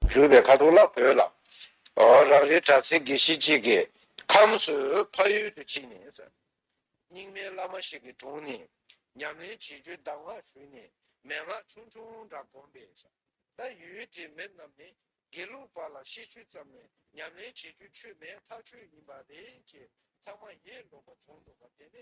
བརྫུས་པའི་ཁ་དོག་ལ་བོས་ལ། རང་རེའི་གྲྭ་བཙུན་དགེ་བཤེས་གཅིག་གི་ཁམས་སུ་ཕ་ཡུལ་དུ་ཕྱིན་ནས། རྙིང་མའི་བླ་མ་ཞིག་གི་དྲུང་ནས་ཉམས་ལེན་བྱེད་རྒྱུའི་གདམས་ངག་ཞུས་ནས་མན་ངག་ཆུང་ཆུང་འདྲ་བསྒོམས་པས། ད་ཡུལ་དེའི་མི་རྣམས་ནི་དགེ་ལུགས་པ་ལ་ཤེས་ཆོད་ཙམ་ལས་ཉམས་ལེན་བྱེད་རྒྱུའི་ཆོས་མེད་ཐག་ཆོད་ཡིན་པ་རེད་ཅེས་ཚང་མ་ཡས་ལོག་པ་བྱུང་འདུག་པ་དེ་ནི་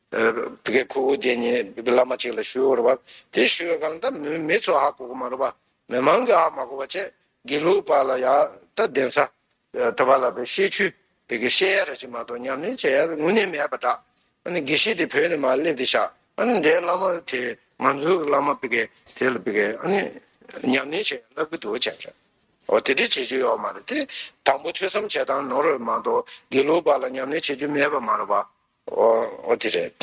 བི་ཀའི་ཁུ་བོ་དེ་ཉིད་བླ་མ་གཅིག་ལ་ཞུས་འོར་བ། དེ་ཞུས་པའི་སྐབས་ན་མི་ཚོ་ཧ་གོ་གོ་མ་རུ་བ། མི་མང་གིས་ཧ་མ་གོ་བ་ཆད་དགེ་ལུགས་པ་ལ་ཡང་ད་གདན་ས། ཐུབ་པ་ལ་བའི་བཤད་ཆུས་བི་ཀའི་བཤད་ཡ་ར་གཅིག་མ་གཏོགས་ཉམས་ལེན་བྱེད་ཡ་ར་དངོས་གནས་མེད་པ་འདྲ། ཨ་ནི་དགེ་བཤེས་དེ་བོད་ནས་མར་སླེབས་ཏེ་ཤག་ཨ་ནི་འདྲའི་བླ་མ་དེ་ང་ཚོའི་བླ་མ་བི་ཀའི་དེ་ལ་བི་ཀའི་ཨ་ནི་ཉམས་ལེན་བྱེད་ཡ་ལབ་གི་འདུག་བྱས་ཤག་འོ་དེ་འདྲས་བྱེད་རྒྱུ་ཡོད་མ་རེད་དེ། དང་པོ་ཐོས་བསམ་བྱེད་སྟངས་ནོར་བས་མ་གཏོགས་དགེ་ལུགས་པ་ལ་ཉམས་ལེན་བྱེད་རྒྱུ་མེད་པ་མ་རུ་བ། འོ་དེ་རེད།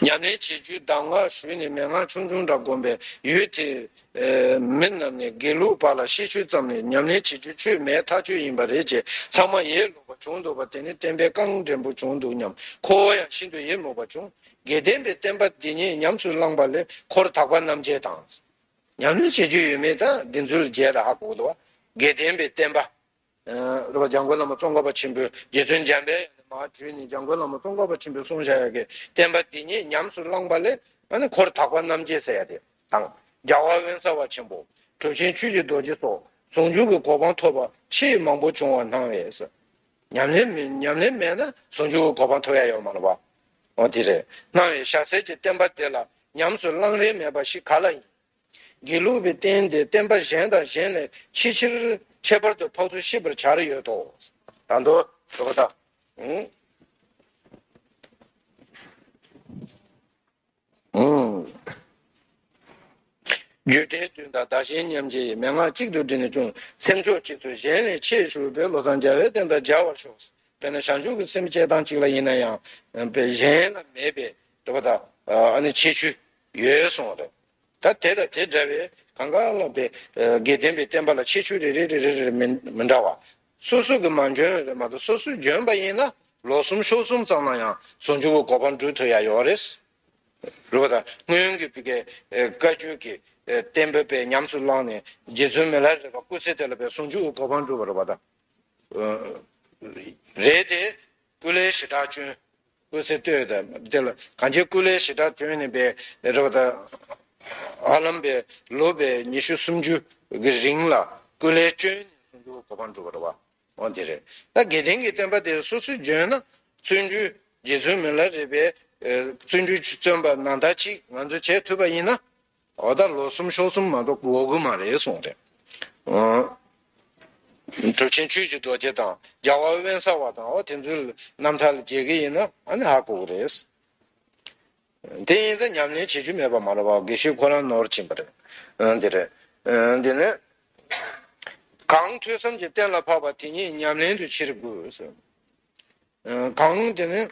ཉམས་ལེན་བྱེད་རྒྱུའི་གདམས་ངག་ཞུས་ནས་མན་ངག་ཆུང་ཆུང་འདྲ་བསྒོམས་པས་ཡུལ་དེའི་མི་རྣམས་ནས་དགེ་ལུགས་པ་ལ་ཤེས་ཤུལ་ཙམ་ནས་ཉམས་ལེན་བྱེད་རྒྱུ་ཆོས་མེད་ཐག་ཆོད་ཡིན་པ་རེད་ཅེས་ཚང་མ་ཡས་ལོག་པ་བྱུང་འདུག་པ་དེ་ནི་བསྟན་པའི་རྐང་འགྲན་པོ་བྱུང་འདུག་སྙམ་ཁོ་བོ་ཡང་ཤིན་ཏུ་ཡི་མུག་པ་བྱུང། དགེ་ལྡན་པའི་བསྟན་པ་འདི་ཉིད་ཉམས་སུ་བླངས་པ་ལས་འཁོར་དག་པ་རྣམ་རྒྱལ་དང། ཉམས་ལེན་བྱེད་རྒྱུ་ཡོད་མེད་དང་བདེན་རྫུན་ལ་འཇལ་ད་ཧ་གོ་གི་འདུག་དགེ་ལྡན་པའི་བསྟན་པ་རེ་བ་འཇམ་མགོན་བླ་མ་ཙོང་ཁ་པ་ཆེན་པོའི་དགེ་འདུན་འཇམ་དཔལ་ཡང་ནས་མ་བྲིས་ནས་འཇམ་མགོན་བླ་མ་ཙོང་ཁ་པ་ཆེན་པོའི་གསུང་བཤད་ཡོད་ཀྱི་བསྟན་པ་འདི་ཉིད་ཉམས་སུ་བླངས་པ་ལས་འཁོར་དག་པ་རྣམ་རྒྱལ་ཟེར་ཡ་དེ་དང། རྒྱ་བ་དབེན་གསར་བ་ཆེན་པོ། གྲུབ་ཆེན་ཆོས་རྗེ་རྡོ་རྗེ་སོགས་ཟུང་འཇུག་གི་གོ་འཕང་ཐོབ་པ་ཆེས་མང་པོ་བྱུང་བར་སྣང་བས། ཉམས་ལེན་མེད་ན་ཟུང་འཇུག་གི་གོ་འཕང་ཐོབ་ཡ་ཡོད་མ་རེད་པ། འོ་དེ་རེད། སྣང་བས་ཞྭ་སེར་གྱི་བསྟན་པ་འདི་ལ་ཉམས་སུ་བླང་རན་མེད་པ་ཞིག་ག་ལ་ཡིན། དགེ་ལུགས་པའི་རྟེན་དེ་བསྟན་པ་གཞན་དང་གཞན་ལས་ཆེས་ཆེར་ཁྱད་པར་དུ་འཕགས་ཚུལ་ཤེས་པར་བྱར་ཡོད་དོ། དང་དོ། ཞེས་པ་དང། བརྗོད་བྲལ་དོན་དང་བདག་གཞན་མཉམ་བརྗེ་ཡི་མན་ངག་གཅིག་ཏུ་བསྒྲིལ་ནས་ཅུང་སེམས་མཆོག་གཅིག་ཚུལ་གཞན་ལས་ཆེས་ཧྲུལ་པོའི་བློ་བཟང་རྒྱ་བའི་རྟེན་དང་སྦྱར་བར་ཤོག། དཔེར་ན་ཞང་ཞུང་གི་སེམས་བསྐྱེད་སྟངས་གཅིག་ལ་ཡིན་ན་ཡང། གཞན་ལ་མེད་པའི། ཞེས་པ་དང། ཆེས་ཆུ། ཡོད་གསུངས་པ་དང། ད་དེ་དང་དེ་འདྲ་བའི་གང་ག་ལ་དེ་དགེ་ལྡན་པའི་བསྟན་པ་ལ་ཁྱད་ཆོས་རེ་རེ་རེ་རེ་རེ་མི་འདྲ་བ། སོ་སོ་གི་མ་འཇོན་བས་མ་གཏོགས་སོ་སོས་འཇོན་པ་ཡིན་ན་ལོ་གསུམ་ཤོག་གསུམ་ཙམ་ན་ཡང་ཟུང་ཆུང་བོ་གོ་འཕང་འགྲུབ་ཐུབ་ཡ་ཡོད་པ་རེད། རེད་པ་དང་སྔོན་གྱི་བི་ཀའི་བཀའ་བརྒྱུད་ཀྱི་བསྟན་པའི་དཔེ་ཉམས་སུ་བླངས་ནས་རྗེ་བཙུན་མི་ལ་རས་པ་སྐུ་ཚེ་དེ་ལ་བས་ཟུང་ཆུང་བོ་གོ་འཕང་འགྲུབ་པ་རེད་པ་དང། རེད་དེ། ཀུན་ལས་ཞི་དྲག་སྤྱོན། སྐུ་ཚེ་སྟོད་དང་བདེ་ལ་གངས་ཅན་ཀུན་ལས་ཞེ་དྲག་བྱོན་ནས་པའི་རེ་བ་དང། ཧ་ལམ་པའི་ལོ་པའི་ཉི་ཤུ་སུམ་ཅུ་གི་རིང་ལ་ཀུན་ལས་བྱོན་ནས་བསྲུང་བྱའི་གོ་འཕང་བསྒྲུབས་པར་བ་འོ་དེ་རེད་ད་དགེ་ལྡན་གྱི་བསྟན་པ་དེ་སོ་སོའི་འཇོན་ན་བརྩོན་འགྲུས་རྗེ་བཙུན་མི་ལ་རས་པས་བརྩོན་འགྲུས་བརྩོན་པ་ནང་ལྟ་ཅིག་ང་ཚོས་བྱེད་ཐུབ་པ་ཡིན་ན་འོ་ད་ལོ་གསུམ་ཤོག་གསུམ་མ་གཏོགས་འོ་དགུ་མ་རེད་གསུངས་ཏེ། གྲུབ་ཆེན་ཆོས་ཀྱི་རྡོ་རྗེ་དང་རྒྱལ་བ་དབེན་ས་བ་དང་འོ་དེ་ཚོའི་རྣམ་ཐར་ལ་འགྱེལ་གྱི་ཡིན་ན་ཨ་ནི་ཧ་གོ་གི་རེད། དེ་ཡིན་ཙང་ཉམས་ལེན་བྱེད་རྒྱུ་མེད་པ་མ་རེད་བ་དགེ་བཤེས་ཁོ་རང་ནོར་བྱིན་པ་རེད། དེ་རེད། དེ་ནས། གང་ཐོས་བསམ་གྱིས་གཏན་ལ་ཕབ་པ་དེ་ཉིད་ཉམས་ལེན་དུ་ཕྱིར་དགོས། གང་དེ་ནས།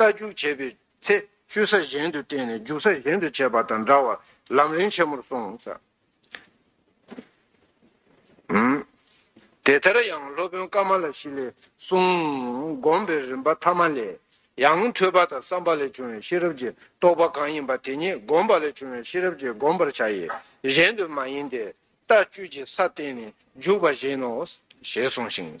རྟ་རྒྱུག་བྱེད་པའི་ཚེ་བཅོས་ས་གཞན་དུ་བསྟན་ནས་རྒྱུག་ས་གཞན་དུ་བྱས་པ་དང་འདྲ་བར་ལམ་རིམ་ཆེན་མོར་གསུངས། དེ་ལྟར་ཡང་སློབ་དཔོན་ཀརྨ་ལ་ཤཱི་ལའི་གསུང་བསྒོམ་པའི་རིམ་པ་ཐ་མ་ལས། ཡང་ཐོས་པ་དང་བསམ་པ་ལས་བྱུང་བའི་ཤེས་རབ་ཀྱི་རྟོག་པ་གང་ཡིན་པ་དེ་ཉིད་བསྒོམ་པ་ལས་བྱུང་བའི་ཤེས་རབ་ཀྱིས་བསྒོམ་པར་བྱ་ཡི། གཞན་དུ་མ་ཡིན་ཏེ། རྟ་བཅོས་ཀྱི་ས་བསྟན་ནས་རྒྱུག་པ་བཞིན་ནོ། ཞེས་གསུངས་ཤིང།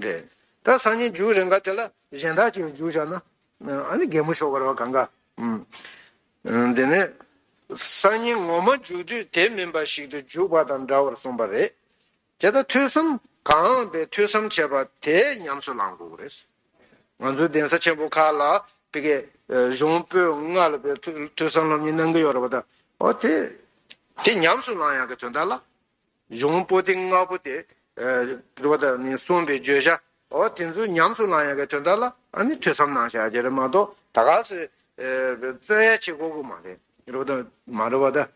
རེད་ད་སང་ཉིན་རྒྱུགས་རེ་འགའ་དེ་ལ་གཞན་དག་ཅིག་རྒྱུགས་བྱ་ན་ཨ་ནི་རྒད་མོ་ཤོར་བར་བ་གང་ག་འུ་དེ་ནས་སང་ཉིན་ངོ་མ་རྒྱུགས་དུས་དེ་མིན་པ་ཞིག་ཏུ་རྒྱུགས་པ་དང་འདྲ་བར་གསུངས་པ་རེད་དེ་ད་ཐོས་བསམ་གང་བས་ཐོས་བསམ་བྱས་པ་དེ་ཉམས་སུ་ལངས་དགོས་རེད་ང་ཚོའི་གདན་ས་ཆེན་པོ་ཁག་ལ་དེ་གའི་གཞུང་པོད་ལྔ་ལ་བས་ཐོས་བསམ་སློབ་གཉེར་གནང་གི་ཡོད་རེད་པ་ད་ཨོ་དེ་དེ་ཉམས་སུ་ལངས་ཡག་གི་དོན་དག་ལ་གཞུང་པོ་ཏི་ལྔ་པོ་སྟེ། དྲི་བ། གསུངས་པའི་བརྗོད་བྱ་འོ་དེ་ཚོ་ཉམས་སུ་བླང་ཡ་གའི་དོན་དག་ལ་ནི་ཐོས་བསམ་གནང་བྱ་རྒྱུ་རེད་མ་གཏོགས་ད་ག་ཟེ་བརྩོན་ཡ་བྱེད་དགོས་དགོས་མ་རེད། རེད་པ་དང། མ་རེད་པ་ད།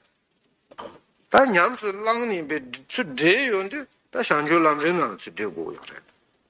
ད་ཉམས་སུ་བླང་ནས་པའི་ཚུལ་འབྲེལ་ཡོད་དུས་ད་བྱང་ཆུབ་ལམ་རིམ་ལམ་ཚུལ་འབྲེལ་དགོས་ཡོད་རེད།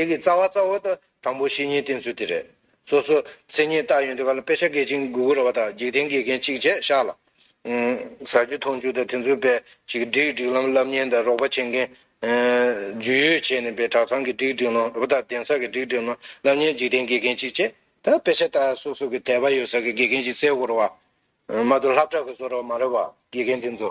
དེ་གི་རྩ་བ་རྩ་བ་དང་དང་པོ་བཤེས་གཉེན་བསྟེན་ཚུལ་དེ་རེད། སོ་སོ། མཚན་ཉིད་བཏགས་ཡོད་འདི་ག་ལ་དཔེ་ཆ་འགེལ་ཅིང་གུ་གུ་ར་བ་དང་འཇིག་རྟེན་དགེ་རྒན་གཅིག་བྱས་ཤག་ལ། ཟ་རྒྱུ་འཐུང་རྒྱུ་དང་དེ་ཚོའི་བེད་ཅིག་སྒྲིག་སྒྲིག་ལམ་བསླབ་གཉེན་དང་རོགས་པ་བྱེད་མཁན། ཇུས་ཡོད་བྱས་ནས་བེད་གྲྭ་ཚང་གི་སྒྲིག་སྒྲིག་ལམ་ར་བ་དང་གདན་ས་གི་སྒྲིག་སྒྲིག་ལམ་བསླབ་གཉེན་འཇིག་རྟེན་དགེ་རྒན་གཅིག་བྱས། ད་དཔེ་ཆ་དག་སོ་སོ་གི་དད་པ་ཡོད་ས་གི་དགེ་རྒན་གཅིག་གསལ་བོར་ར་བ། མ་གཏོགས་ལྷབ་བྲག་གི་བཟོ་ར་བ་མ་ར་བ་དགེ་རྒན་དེ་ཚོ།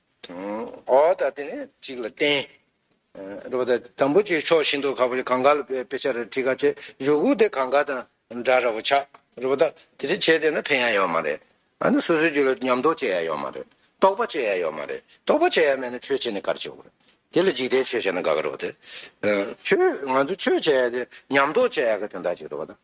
ཨོ་ད་དེ་ནས་གཅིག་ལ་བརྟེན། རེད་པ་ད་དམ་པོ་ཆེའི་ཕྱོགས་ཤིན་ཏུ་ཁ་བོ་ཆེ་གང་ག་ལ་དཔེ་ཆ་རེ་བྲིས་ག་ཆེ་རེ་བུག་དེ་གང་ག་དང་འདྲ་ར་བོ་ཆགས་རེད་པ་ད་དེ་རེ་བྱས་དེ་ན་ཕན་ཡ་ཡོད་མ་རེད་ཨ་ནི་སོ་སོའི་རྒྱུད་ལ་ཉམས་རྟོགས་བྱེད་ཡ་ཡོད་མ་རེད་རྟོགས་པ་བྱེད་ཡ་ཡོད་མ་རེད་རྟོགས་པ་བྱེད་ཡ་མེད་ན་ཆོས་བྱས་ནས་ག་རེ་བྱེད་དགོས་རེད་དེ་ལ་འཇིག་རྟེན་ཆོས་བྱས་ན་དགའ་ག་རེ་བ་དེ། ཆོས་ང་ཚོ་ཆོས་བྱེད་ཡ་དེ་ཉམས་རྟོགས་བྱེད་ཡ་ག་དེ་འདྲ་ཅིག་རེད་པ་ད།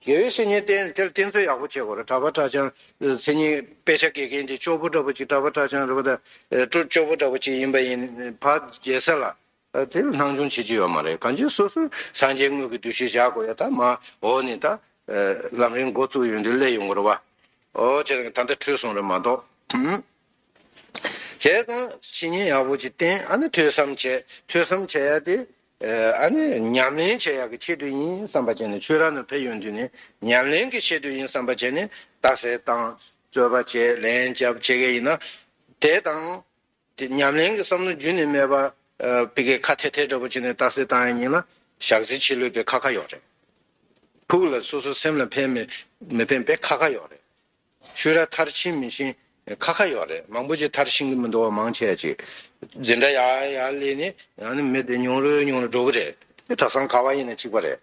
དགེ་བའི་བཤེས་གཉེན་བསྟེན་དེར་བསྟེན་ཚུལ་ཡག་པོ་བྱེད་དགོས་རེད་གྲྭ་པ་གྲྭ་བྱང་མཚན་ཉིད་དཔེ་ཆ་དགེ་རྒན་གྱི་ཅོག་པུ་འདྲ་པོ་གཅིག་གྲྭ་པ་གྲྭ་བྱང་རེད་པ་དང་ཅོག་པུ་འདྲ་པོ་གཅིག་ཡིན་པ་ཡིན་བ་རྒྱལ་ས་ལ་དེ་ལ་སྣང་ཆུང་བྱེད་ཀྱི་ཡོད་མ་རེད་གང་ཅི་སོ་སོས་སངས་རྒྱས་དངོས་ཀྱི་འདུ་ཤེས་བཞག་དགོས་ཡ་ད་མ་འོ་ནི་ད་ལམ་རིང་འགོ་བཙུགས་ཡོད་འདི་སླད་ཡོང་དགོས་རེད་བ་འོ་ཅེ་ད་ད་འཁྲུལ་སོང་རེད་མ་གཏོགས་བྱས་ཙང་བཤེས་གཉེན་ཡག་པོ་གཅིག་བསྟེན་ཨ་ནི་ཐོས་བསམ་བྱས་ཐོས་བསམ་བྱས་ཡ་དེ་ཨ་ནི་ཉམས་ལེན་བྱེད་ཡག་གི་ཆེད་དུ་ཡིན་བསམ་པ་བྱས་ནས་ཆོས་ར་ན་བེད་ཡོང་དུས་ནས་ཉམས་ལེན་གི་ཆེད་དུ་ཡིན་བསམ་པ་བྱས་ནས་རྟགས་གསལ་བཏང་རྩོད་པ་བྱས་ལན་བརྒྱབ་བྱེད་མཁན་ཡིན་ན། དེ་དང། དེ་ཉམས་ལེན་གི་བསམ་བློ་རྒྱུན་ནས་མེད་པ། བི་ཀའི་ཁ་ཐེ་ཐེ་འདྲ་པོ་བྱས་ནས་རྟགས་གསལ་བཏང་ཡ་ཡིན་ན་ཞག་ཟིན་ཕྱི་ལོས་པའི་ཁ་ཁ་ཡོག་རེད། ཕུགས་ལ་སོ་སོ་སེམས་ལ་ཕན་མི་ཕན་པའི་ཁ་ཁ་ཡོག་རེད། ཆུ་ར་མཐར་ཕྱིན་མི་ཤིང་ཁ་ཁ་ཡོག་རེད་མང་པོ་ཅིག་མཐར་ཕྱིན་གི་མི་འདུག་བ་མང་ཆེ་ཅིག་འཛིན་གྲྭ་ཡག་ཡག་ལས་ནི་ཡང་ནི་མི་དེ་ཉུང་རུ་ཉུང་རུ་འགྲོ་གི་རེད་དེ་གྲྭ་སང་ག་བ་ཡིན་ན་གཅིག་པ་རེད་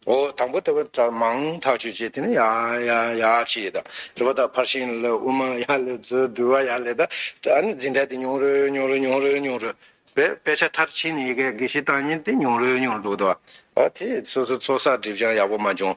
འོ་དང་པོ་དེ་བ་གྲྭ་མང་ཐག་གཅོད་བྱེད་དེ་ནི་ཡག་ཡག་ཡག་ཅིག་ཡིད་ད་རེད་བ་ད་ཕར་ཕྱིན་ལ་དབུ་མ་ཡག་ལས་མཛོད་བསྡུ་བ་ཡག་ལས་ད་ཨ་ནི་འཛིན་གྲྭ་དེ་ཉུང་རུ་ཉུང་རུ་ཉུང་རུ་ཉུང་རུ་བས་དཔེ་ཆ་མཐར་ཕྱིན་ནི་ཡི་གེ་དགེ་བཤེས་བཏང་ཉིན་དེ་ཉུང་རུ་ཉུང་རུ་འགྲོ་གི་འདུག་བ་ཨོ་དེ་སོ་སོ་ཚོགས་བསགས་སྒྲིབ་སྦྱང་ཡག་པོ་མ་བྱུང་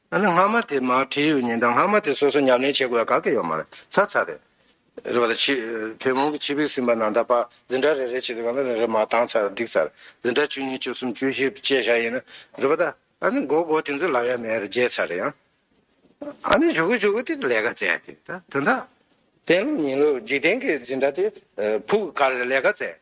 ཨ་ན་སྔ་མ་དེ་མར་བྲིས་ཡོད་ཉིན་དང་སྔ་མ་དེ་སོ་སོ་ཉམས་ལེན་བྱེད་དགོས་ཡ་ག་གི་ཡོད་མ་རེད་ཚར་ཚར་རེད། རེད་པ་ད་ཕྱི་དྲོད་མོང་གི་ཕྱི་བིར་སིམ་པ་ནང་ད་པ་འཛིན་གྲྭ་རེ་རེ་བྱེད་དུ་གང་ལ་རེ་རེ་མར་བཏང་ཚར་བསྒྲིགས་ཚར་འཛིན་གྲྭ་བཅུ་གཉིས་བཅུ་གསུམ་བཅུ་བཞི་བཅས་བཞག་ཡིན་ན་རེད་པ་ད་ཨ་ན་མགོ་སྒོ་དེ་ཚོ་ལག་ཡ་མེད་རེད་བརྗེད་ཚར་རེད་ཡང་ཨ་ན་བཞུགས་གི་བཞུགས་གི་དེ་ལས་ཀ་མཛད་དེ་ད་དོན་དག། བསྟན་ལོ་ཉིན་ལོ་འཇིག་རྟེན་གྱི་འཛིན་གྲྭ་དེ་ཕུག་ག་རེ་ལས་ཀ་མཛད།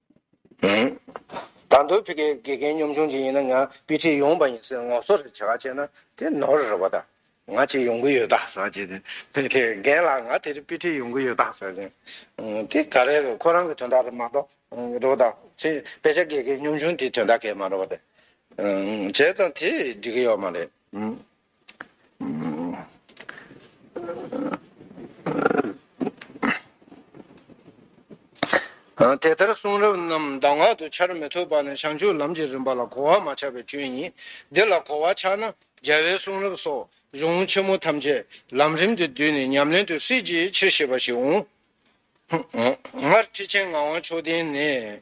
དང་དོལ་ཕི་ཀའི་དགེ་རྒན་གཉོམ་ཆུང་ཅིག་ཡིན་ན་ང་པི་ཏི་ཡོང་བ་ཡིན་ཟེར་ངོ་སོ་རེ་བྱེད་ཁ་བྱེད་ན་དེ་ནོར་རེད་བ་ད་ང་ཅིག་ཡོང་གི་ཡོད་ད་ཟེར་བྱེད་དེ་ཕི་ཏི་རྒན་ལགས་ང་དེ་རི་པི་ཏི་ཡོང་གི་ཡོད་ད་ཟེར་བྱེད་དེ་ག་རེ་རེད་ཁོ་རང་གི་དོན་དག་རེད་མ་གཏོགས་རེད་བ་ད་ཕྱི་དཔེ་ཆ་དགེ་རྒན་གཉོམ་ཆུང་དེའི་དོན་དག་གས་མ་རེད་བ་ད་བྱས་ཙང་དེ་འགྲིག་གི་ཡོད་མ་རེད། དེ་ལྟར་གསུང་རབ་རྣམས་གདམས་ངག་ཏུ་འཆར་མི་ཐུབ་པ་ནི་བྱང་ཆུབ་ལམ་གྱི་རིམ་པ་ལ་གོ་བ་མ་ཆག་པའི་སྐྱོན་ཡིན། འདི་ལ་གོ་བ་ཆག་ན་རྒྱལ་བའི་གསུང་རབ་སོགས་གཞུང་ཆེན་མོ་ཐམས་ཅད་ལམ་རིམ་དུ་བསྡུས་ནས་ཉམས་ལེན་དུ་སྲིད་ཅིའི་ཕྱིར་ཞེས་པ་ཞིག་འོང། སྔར་ཁྲི་ཆེན་ངག་དབང་མཆོག་ལྡན་ནས།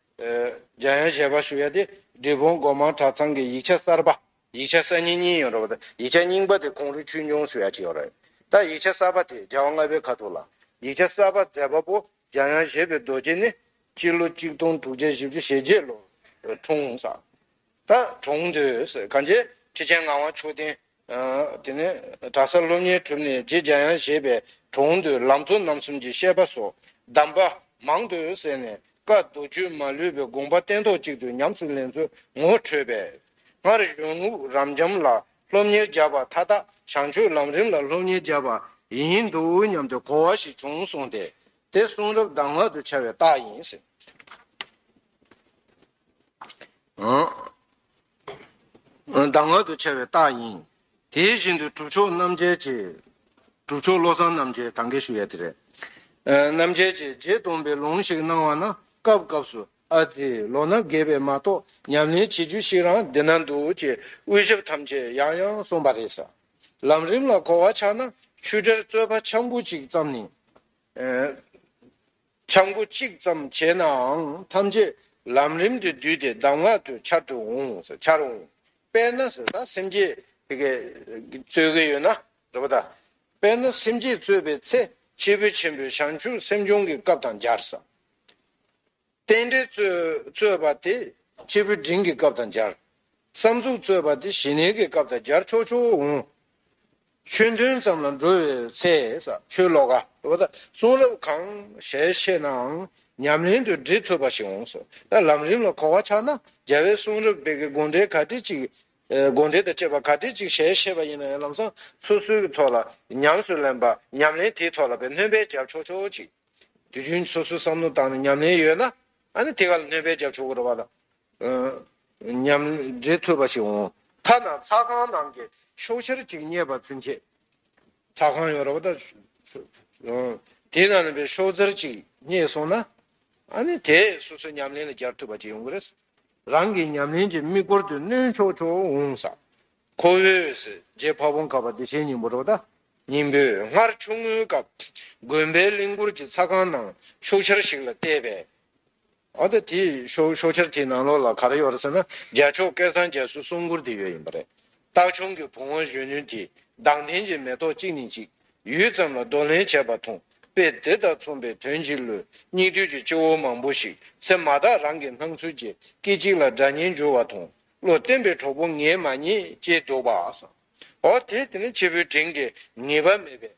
རྒྱ་ཡན་ཞལ་པར་ཞུ་ཡ་དེ་འབྲི་སྤུངས་སྒོ་མང་གྲྭ་ཚང་གི་ཡིག་ཆ་གསར་པ། ཡིག་ཆ་གསར་རྙིང་གཉིས་ཡོད་རེད་བ་དང་ཡིག་ཆ་རྙིང་པ་དེ་གུང་རུ་ཆོས་འབྱུང་ཞུ་ཡ་བྱས་ཡོད་རེད། ད་ཡིག་ཆ་གསར་པ་དེ་རྒྱལ་བ་ལྔ་པའི་ཁ་ཐུག་ལ། ཡིག་ཆ་གསར་པ་མཛད་པ་པོ་རྒྱ་ཡན་བཞེད་པའི་རྡོ་རྗེ་ནི། སྤྱི་ལོ་གཅིག་སྟོང་དྲུག་བརྒྱ་བཞི་བཅུ་ཞེ་བརྒྱད་ལོར་འཁྲུངས། ད་གྲོངས། དུས་གང་རྗེས་ཁྲི་ཆེན་ངག་དབང་མཆོག་ལྡན་དེ་ནས་གྲྭ་ས་སློབ་གཉེར་གྲུབ་ནས་རྗེ་རྒྱ་ཡང་བཞེད་པའི་དྲུང་དུ་ལམ་གཙོ་རྣམ་གསུམ་གྱི་བཤད་པ་སོགས་གདམས་པ་མང་དུ་གསན་ནས་བཀའ་མདོ་རྒྱུད་མ་ལུས་པའི་དགོངས་པ་བསྟན་ཐོག་གཅིག་ཏུ་ཉམས་སུ་ལེན་ཚུལ་ངོ་འཕྲོད་པས། སྔར་གཞུང་ལུགས་རབ་འབྱམས་ལ་སློབ་གཉེར་བརྒྱབ་པ་མཐའ་དག་བྱང་ཆུབ་ལམ་རིམ་ལ་སློབ་གཉེར་བརྒྱབ་པ་ཡིན་འདུག་སྙམ་དུ་གོ་བ་ཞིག་བྱུང་གསུངས་ཏེ། དེ་གསུང་རབ་གདམས་ངག་ཏུ་འཆར་བའི་རྟགས་ཡིན། གདམས་ངག་ཏུ་འཆད་པའི་རྟགས་ཡིན། དེ་བཞིན་དུ་གྲུབ་མཆོག་རྣམ་རྒྱལ་གྱིས། གྲུབ་མཆོག་བློ་བཟང་རྣམ་རྒྱལ་གང་གཱའི་ཞུ་ཡ་དེ་རེད། རྣམ་རྒྱལ་གྱིས་རྗེ་སྟོན་པའི་ལུང་ཞིག་གནང་བ་ན་སྐབས་སྐབས་སུ་ཨ་ཙི་ལོ་ན་རྒས་པས་མ་གཏོགས་ཉམས་ལེན་བྱེད་རྒྱུ་ཞིག་རང་འདི་ན་འདུག་ཅེས་དབུས་ཞབས་ཐམས་ཅད་ཡང་ཡང་གསུངས་པ་རེད། ལམ་རིམ་ལ་གོ་བ་ཆགས་ན་ཆུ་གྲེར་རྩོད་པ་འཆམ་པོ་ཅིག་བརྩམས་ནས། འཆང་པོ་གཅིག་ཙམ་བྱས་ནའང་ཐམས་ཅད་ལམ་རིམ་དུ་བསྡུས་ཏེ་གདམས་ངག་ཏུ་འཆར་དུ་འོང། འཆར་འོང། དཔེར་ན། སེམས་བསྐྱེད། དེ་ཀའི་རྩོད་ཀྱི་ཡོད་ན། དཔེར་ན། སེམས་བསྐྱེད་རྩོད་པའི་ཚེ་སྐྱེས་བུ་ཆེན་པོའི་བྱང་ཆུབ་སེམས་སྦྱོང་གི་སྐབས་དང་སྦྱར། རྟེན་འབྲེལ་རྩོད་པ་དེ་སྐྱེས་བུ་འབྲིང་གི་སྐབས་དང་སྦྱར། བསམ་གཟུགས་རྩོད་པ་དེ་ཞི་གནས་ཀྱི་སྐབས་དང་སྦྱར་ཆོག་ཆོག་འོང། ཆོས་མཐུན་ཙམ་ལ་འགྲོ་བའི་ཚེ། ཆོས་ལོག་ག་བ་དང་གསུང་རབ་གང་ཞལ་ཕྱེས་ནའང་ཉམས་ལེན་དུ་འབྲི་ཐུབ་པ་ཞིག་འོང་སོ། ད་ལམ་རིམ་ལ་གོ་བ་ཆགས་ན་རྒྱལ་བའི་གསུང་རབ་དེ་གའི་དགོངས་འགྲེལ་ག་དེ་ཅིག་དགོངས་འགྲེལ་དང་བཅས་པ་ག་དེ་ཅིག་ཞལ་ཕྱེས་པ་ཡིན་ན་ཡང་ལམ་སང་སོ་སོའི་གི་ཐོག་ལ་ཉམས་སུ་ལེན་པ་ཉམས་ལེན་དེའི་ཐོག་ལ་བས་སྣོན་པས་རྒྱབ་ཆོག་ཆོག་ཅིག་དུས་རྒྱུན་སོ་སོའི་བསམ་བློ་བཏང་ནས་ཉམས་ལེན་ཡོད་ན་ཨ་ནི་དེ་ག་ལ་སྣོན་པས་རྒྱབ་ཆོག་གུ་རུ་བ་ལ་མཉམ་འབྲེལ་ཐུབ་པ་ཞིག་འོང་ཐ་ན་ཚ་ཁང་ནང་གི་ཤོག་ཆར་གཅིག་རྙེད་པ་ཚུན་ཆད། ཚ་ཁང་ཡོད་རེད་བ་ད། དེའི་ནང་ལས་པའི་ཤོག་ཆར་གཅིག་རྙེད་སོང་ན། ཨ་ནི་དེས་སོ་སོའི་ཉམས་ལེན་ལ་སྦྱར་ཐུབ་པ་ཅིག་ཡོང་གི་རེད། རང་གི་ཉམས་ལེན་གྱི་དམིགས་སྐོར་དུ་སྣོན་ཆོག་ཆོག་འོང་ས། ཁོ་བོས་རྗེ་ཕ་བོང་ཁ་བ་བདེ་ཆེན་སྙིང་པོ་རེད་བ་ད། སྙིང་པོས་སྔར་ཆུང་ངུའི་སྐབས་དགོན་པའི་གླིང་སྐོར་གྱི་ཚ་ཁང་ནང་ཤོག་ཆར་ཞིག་ལ་བལྟས་པས། འོན་ཏེ་དེའི་ཤོག་ཤོག་ཆར་དེའི་ནང་ལོགས་ལ་ག་རེ་ཡོད་རེད་ཟེར་ན་རྒྱལ་མཆོག་སྐལ་བཟང་རྒྱལ་སྲིད་གསུམ་མགུར་དེ་ཡོད་ཡིན་པ་རེད། སྟག་ཆུང་གི་བུང་བ་གཞོན་ནུས་དེས་མདངས་ལྡན་གྱི་མེ་ཏོག་གཅིག་ནས་གཅིག་ཡུད་ཙམ་ལ་བསྡུ་ལེན་བྱས་པ་མཐོང་དཔེ་དེ་དང་མཚུངས་པའི་དོན་གྱིས་ལོས་སྙིགས་དུས་ཀྱི་སྤྱི་བོ་མང་པོ་ཞིག་ཚེ་མ་ཐག་རང་གི་སྣང་ཚུལ་གྱི་སྐད་ཅིག་ལ་སྒྲ་སྙན་འགྱུར་བ་མཐོང་བློ་བརྟན་པའི་གྲོགས་པོ་ངས་མ་རྙེད་ཅེས་འདུག་པ། ཨོ་དེ་དེ་ནི་ཆེ་བུའི་དྲིན་གྱིས་ངེས་པ་མེད་པས།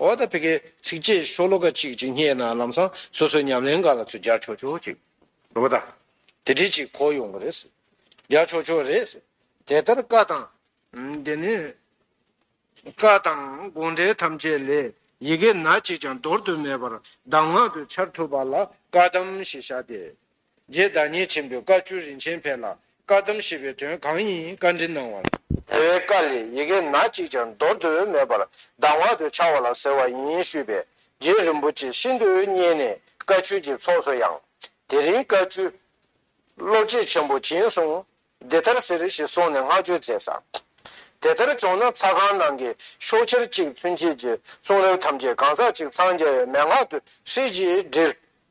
ཨོ་ད་བྷེ་ཁའི་ཚིགས་བཅད་ཤོ་ལོ་ཀ་གཅིག་གཅིག་སྙེག་ན་ལམ་སང་སོ་སོའི་ཉམས་ལེན་འགའ་ལ་ཚུར་རྒྱག་ཆོག་ཆོག་ཅིག་རེད་པ་ད། དེ་འདྲས་ཅིག་གོ་ཡོང་གི་རེད། རྒྱག་ཆོག་ཆོག་རེད། དེ་ལྟར་བཀའ་དང། དེ་ནས། བཀའ་དང་དགོངས་འགྲེལ་ཐམས་ཅད་ལས་ཡི་གེ་ན་གཅིག་ཀྱང་འདོར་དུ་མེད་པར་གདམས་ངག་ཏུ་འཆར་ཐུབ་པ་ལ་བཀའ་གདམས་ཞེས་བྱ་སྟེ། རྗེ་བདག་ཉིད་ཆེན་པོས་བཀའ་བཅུ་རིན་ཆེན་འཕེལ་ལ་བཀའ་གདམས་ཞེས་པའི་དོན་གང་ཡིན་བཀའ་འདྲི་གནང་བར། དེ་བས་བཀའ་ལས་ཡི་གེ་ན་གཅིག་ཀྱང་འདོར་དུ་མེད་པར་གདམས་ངག་ཏུ་འཆར་བ་ལ་ཟེར་བ་ཡིན་ཞུས་པས་རྗེ་རིན་པོ་ཆེ་ཤིན་ཏུ་མཉེས་ནས་བཀའ་ཆོས་ཀྱི་ཚོགས་སུ་ཡང། དེ་རིང་བཀའ་བཅུ། བློ་བསྐྱེད་ཆེན་པོ་བྱིན་གསུངས། འདི་ལྟར་ཟེར་ཞེས་གསུངས་ནས་བསྔགས་བརྗོད་མཛད། དེ་ལྟར་བྱུང་ན་ཚ་ཁང་ནང་གི་ཤོག་ཁྱེར་གཅིག་ཚུན་ཆད་ཀྱི་གསུང་རབ་ཐམས་ཅད་གང་ཟག་གཅིག་འཚང་རྒྱ་བའི་མན་ངག་ཏུ་ཧྲིལ་གྱིས་བསྒྲིལ།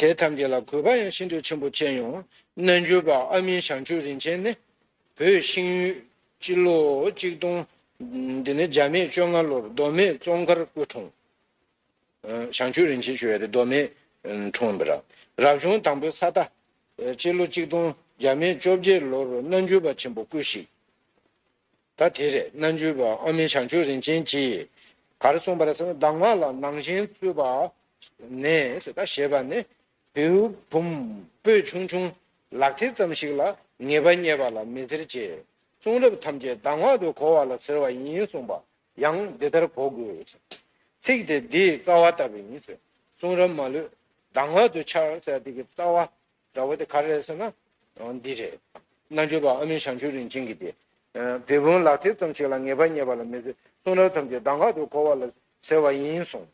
དེ་ཐམས་ཅད་ལ་གུས་པ་ཡང་ཤིན་ཏུ་ཆེན་པོ་བསྐྱེད་ཡོང། རྣལ་འབྱོར་པ་ཨ་མིན་ཞང་ཆུ་རིན་ཆེན་ནི། བོད་ཤིང་ཡུལ་སྤྱི་ལོ་གཅིག་སྟོང། འདི་ནི་འཇར་མེད་བཅོ་ལྔ་ལོར་མདོ་སྨད་ཙོང་ཁར་སྐུ་འཁྲུངས། ཞང་ཆུ་རིན་ཆེན་ཞུ་བའི་རི་མདོ་སྨད་འཁྲུངས་པ། རབ་བྱུང་དང་པོའི་ས་རྟ། སྤྱི་ལོ་གཅིག་སྟོང་འཇར་མེད་བཅོ་བརྒྱད་ལོར་རྣལ་འབྱོར་པ་ཆེན་པོ་སྐུ་གཤེགས། ད་དེ་རེད་རྣལ་འབྱོར་པ་ཨ་མེ་བྱང་ཆུབ་རིན་ཆེན་གྱིས། གར་གསུངས་པར་གདམས་ངག་ལ་ནང་བཞིན་བཙུད་པ། ནས་ད་ཞེས་པ་ནི། བེའུ་བུམ་སྤོས་ཆུང་ཆུང་ལག་མཐིལ་ཙམ་ཞིག་ལ་ངེས་པ་རྙེད་པ་ལ་མི་ཟེར་ཅེས། གསུང་རབ་ཐམས་ཅད་གདམས་ངག་ཏུ་གོ་བ་ལ་ཟེར་བ་ཡིན་གསུངས་པ་ཡང་འདི་ལྟར་གོ་དགོས། ཚིག་དེ་འདིའི་རྩ་བ་ལྟ་བུ་ཡིན། གསུང་རབ་མ་ལུས་གདམས་ངག་ཏུ་འཆར། ཚིག་འདི་གི་རྩ་བ་འདྲ་བོ་དེ་ག་རེད་ཟེར་ན། འདི་རེད། རྣལ་འབྱོར་པ་ཨ་མིན་ཞང་ཆོས་རིན་ཆེན་གྱིས་ཏེ། བེ་བུན་ལག་མཐིལ་ཙམ་ཞིག་ལ་ངེས་པ་རྙེད་པ་ལ་མི་ཚེ་གསུང་རབ་ཐམས་ཅད་གདམས་ངག་ཏུ་གོ་བ་ལ་ཟེར་བ་ཡིན་གསུངས།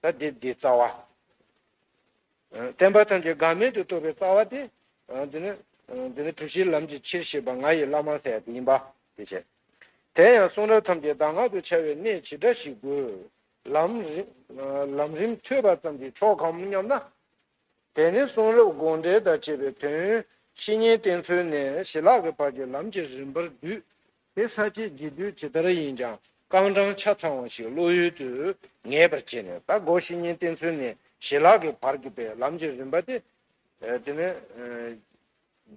ད་འདིར་འདི་རྩ་བ། བསྟན་པ་ཐམས་ཅད་འགག་མེད་དུ་རྟོགས་པའི་རྩ་བ་སྟེ། འདི་ནི། འདི་ནི་གྲུ་བཞིའི་ལམ་གྱི་ཕྱིར་ཞེས་པ་ང་ཡི་བླ་མ་ལྷས་དེ་ཡིན་པ་དེ་བྱས། དེ་ཡང་གསུང་རབ་ཐམས་ཅད་གདམས་ངག་ཏུ་འཆར་བའི་གནད་ཇི་འདྲ་ཞིག་དགོས། ལམ་རིམ་ཐོས་པ་ཙམ་གྱིས་ཆོག་གམ་སྙམ་ན། དེ་ནི་གསུང་རབ་དགོངས་འགྲེལ་དང་བཅས་པའི་དོན། བཤེས་གཉེན་བསྟེན་ཚུལ་ནས་ཞི་ལྷག་གི་བར་གྱི་ལམ་གྱི་རིམ་པར་བསྡུས། དེ་ས་བཅད་བརྗེ་བསྡུས་ཇི་ལྟར་ཡིན་ཀྱང་རྐང་གྲངས་ཆ་ཚང་བ་ཞིག་བློ་ཡུལ་དུ་ངེས་པར་བྱས་ནས་ད་གོ་བཤེས་གཉེན་བསྟེན་ཚུལ་ནས་ཞི་ལྷག་གི་བར་གྱི་པའི་ལམ་གྱི་རིམ་པ་སྟེ། དེ་ནི།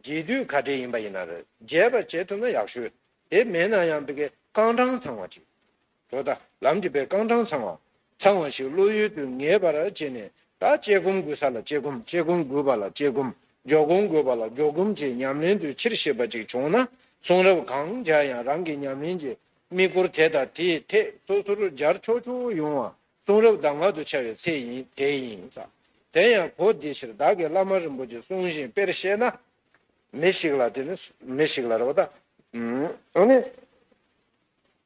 རྗེས་བསྡུས་ག་འདྲའི་ཡིན་པ་ཡིན་ན་རེ་རྒྱས་པར་བྱེད་ཐུབ་ན་ཡག་ཤོས་དེ་མེད་ན་ཡང་འདི་གའི་རྐང་གྲངས་ཚང་བ་ཅིག་དོ་ད་ལམ་གྱི་པའི་རྐང་གྲངས་ཚང་བ། ཚང་བ་ཞིག་བློ་ཡུལ་དུ་ངེས་པར་བྱས་ནས་ད་དཔྱད་སྒོམ་དགོས་ས་ལ་དཔྱད་སྒོམ་དཔྱད་སྒོམ་དགོས་པ་ལ་དཔྱད་སྒོམ་འཇོག་སྒོམ་དགོས་པ་ལ་འཇོག་སྒོམ་བྱེད་ཉམས་ལེན་དུ་ཕྱིར་ཤེས་པ་ཅིག་བྱུང་ན་གསུང་རབ་གང་སྦྱར་ཡང་རང་གི་ཉམས་ལེན་གྱི་དམིགས་སྐོར་དེ་དང་དེའི་ཐད་སོ་སོར་སྦྱར་ཆོག་ཆོག་ཡོང་བ་གསུང་རབ་གདམས་ངག་ཏུ་འཆར་བའི་ཚད་ཡིན་དེ་ཡིན། དེ་ཡང་གོ་བདེ་ཕྱིར་བདག་གིས་བླ་མ་རིན་པོ་ཆེ་གསུང་བཞིན་དཔེར་བཤད་ན། མི་ཞིག་ལ།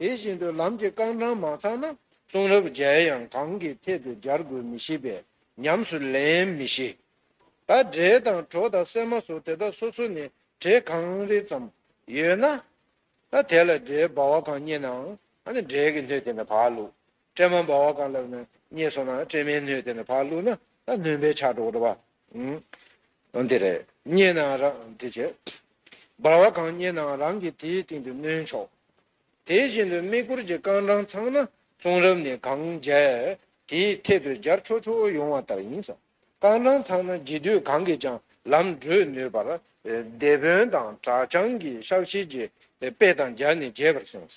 དེ་བཞིན་དུ་ལམ་གྱི་རྐང་གྲངས་མ་ཚང་ན་གསུང་རབ་མཇལ་ཡང་གང་གི་ཐད་དུ་སྦྱར་དགོས་མི་ཤེས་པས་ཉམས་སུ་ལེན་མི་ཤེས། ད་འབྲས་དང་གྲོ་དང་སྲན་མ་སོགས་དེ་དག་སོ་སོ་ནས་གྲས་གང་རེ་ཙམ་ཡོད་ན། ད་དེ་ལ་འབྲས་སྦ་བ་གང་རྙེད་ནའང་འབྲས་ཀྱི་ལྷོད་དེ་ནས་བག་ལུགས་སྤྲེལ་མ་འབར་བ་གང་ལ་བརྙས་སོང་ན་སྤྲེལ་མའི་སྣོད་དེ་ནས་བག་བླུགས་ན་ད་ནོན་པའི་ཆག་འགྲོ་བ། དེ་རེད། བརྙས་ནའང་རང་དེ་བྱེད། འབར་བ་གང་བརྙས་ནའང་རང་གིས་དེའི་སྟེང་དུ་ནོན་ཆོག། དེ་བཞིན་དུ་དམིགས་བསྐུར་གྱི་རྐང་གྲངས་ཚང་ན་གསུང་རབ་ནི་གང་རྒྱལ་དེའི་ཐད་དུ་སྦྱར་ཆོག་ཆོག་ཡོང་བ་ལྟར་ཡིན། རྐང་གྲངས་ཚང་ན་རྒྱས་བསྡུས་གང་གིས་ཀྱང་ལམ་བགྲོད་ནུས་པར་སྡེ་དཔོན་དང་གྲྭ་རྐྱང་གི་ཤག་ཤེད་ཀྱི་དཔེ་དང་སྦྱར་ནས་རྒྱས་པར་གསུངས།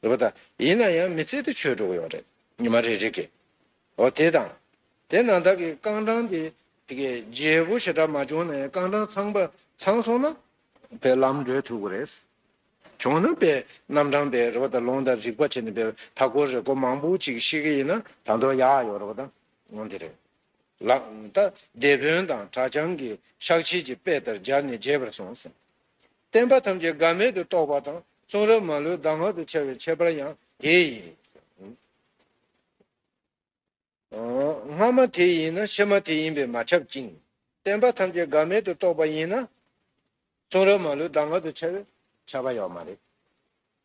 ཟེར་བ་དང་ཡིན་ན་ཡང་མི་ཚེ་དེ་ཆོས་དྲུག་ཡོད་རེད་ཉི་མ་རེ་རེ་གི་འོ་དེ་དང། དེ་ནང་དག་གི་རྐང་གྲངས་དེ་དེ་གི་རྗེས་པོ་ཞེ་དྲག་མ་བྱུང་ན་ཡང་རྐང་གྲངས་ཚང་པ་ཚང་སོང་ན་པའི་ལམ་འགྲོས་ཐུག་གི་རེད། བྱུང་ན་པའི་རྣམ་གྲངས་པའི་རེ་བ་དང་ལུང་དང་རིག་པ་བྱས་ནས་པའི་མཐའ་སྐོར་རེ་སྐོར་མང་པོ་ཅིག་ཤེས་གི་ཡིན་ན་དང་དོ་ཡག་ཡོད་རེ་བ་དང་ངོ་འདི་རེད། ལགས། ད་སྡེ་དཔོན་དང་གྲྭ་བྱང་གི་ཤག་ཕྱིས་ཀྱི་དཔེ་ལྟར་སྦྱར་ནས་རྒྱས་པར་སོང་ཟིན། བསྟན་པ་ཐམས་ཅད་འགག་མེད་དུ་རྟོགས་པ་དང་གསུང་རབ་མ་ལུས་གདམས་ངག་ཏུ་འཆར་བའི་ཁྱད་པར་ཡང་དེ་ཡིན། སྔ་མ་དེ་ཡིན་ན་ཕྱི་མ་དེ་ཡིན་པས་མ་ཁྱབ་ཅིང། བསྟན་པ་ཐམས་ཅད་འགག་མེད་དུ་རྟོགས་པ་ཡིན་ན། གསུང་རབ་མ་ལུས་གདམས་ངག་ཏུ་འཆར་བའི་ཁྱད་པར་ཡང་མ་རེད།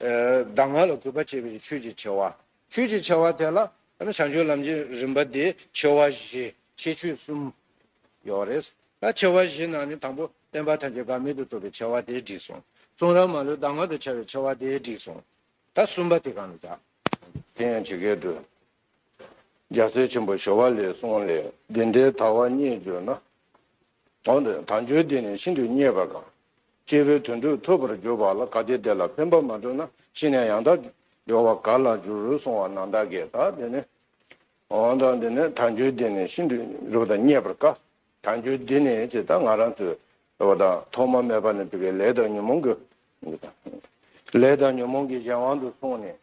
གདམས་ངག་ལ་གུས་པ་བྱེད་པའི་ཆོས་ཀྱི་ཆེ་བ། ཆོས་ཀྱི་ཆེ་བ་དེ་ལ་བྱང་ཆུབ་ལམ་གྱི་རིམ་པ་དེ་ཆེ་བ་བཞི་ཤེས་ཆོས་གསུམ་ཡོད་རེད། ད་ཆེ་བ་བཞི་ནང་ནས་དང་པོ་བསྟན་པ་ཐམས་ཅད་འགག་མེད་དུ་བཏུབ་པའི་ཆེ་བ་དེ་འགྲིག་སོང། གསུང་རབ་མ་ལུས་གདམས་ངག་ཏུ་འཆར་བའི་ཆེ་བ་དེ་འགྲིག་སོང། ད་གསུམ་པ་དེ་གང་ལ་བྱ། དེ་ཡང་ཇི་སྐད་དུ། རྒྱ་མཚོའི་ཆེན་པོ་ཞོ་བ་ལའི་གསུང་ལས་འདི་འདྲའི་དག་བ་རྙེད་འགྱུར་ན། གང་དུ་དལ་འབྱོར་འདི་ནི་ཤིན་ཏུ་རྙེད་པ་དང། སྐྱེས་བུའི་དོན་དུ་ཐོས་པར་གྱུར་པ་ལ་ག་དེ་དེ་ལ་ཕན་པ་མ་ཐོབ་ན་ཤི་ནས་ཡང་དག་འབྱོར་བ་ག་ལ་འགྱུར་རུ་གསུང་བ་ན་བདག་གིས་ད་འདི་ནི། འོན་ཏང་འདི་ནི་དལ་འབྱོར་འདི་ནི་ཤིན་ཏུ་རབ་དང་རྙེད་པར་དཀའ། དལ་འབྱོར་འདི་ནི་ཅེས་ད་ང་རང་ཚོས་བ་དང་ཐོག་མ་མེད་པ་ནས་བུ་གའི་ལས་དང་ཉོན་མོངས་ཀྱི། ལས་དང་ཉོན་མོངས་ཀྱི་གཞན་དབང་དུ་སོང་ནས་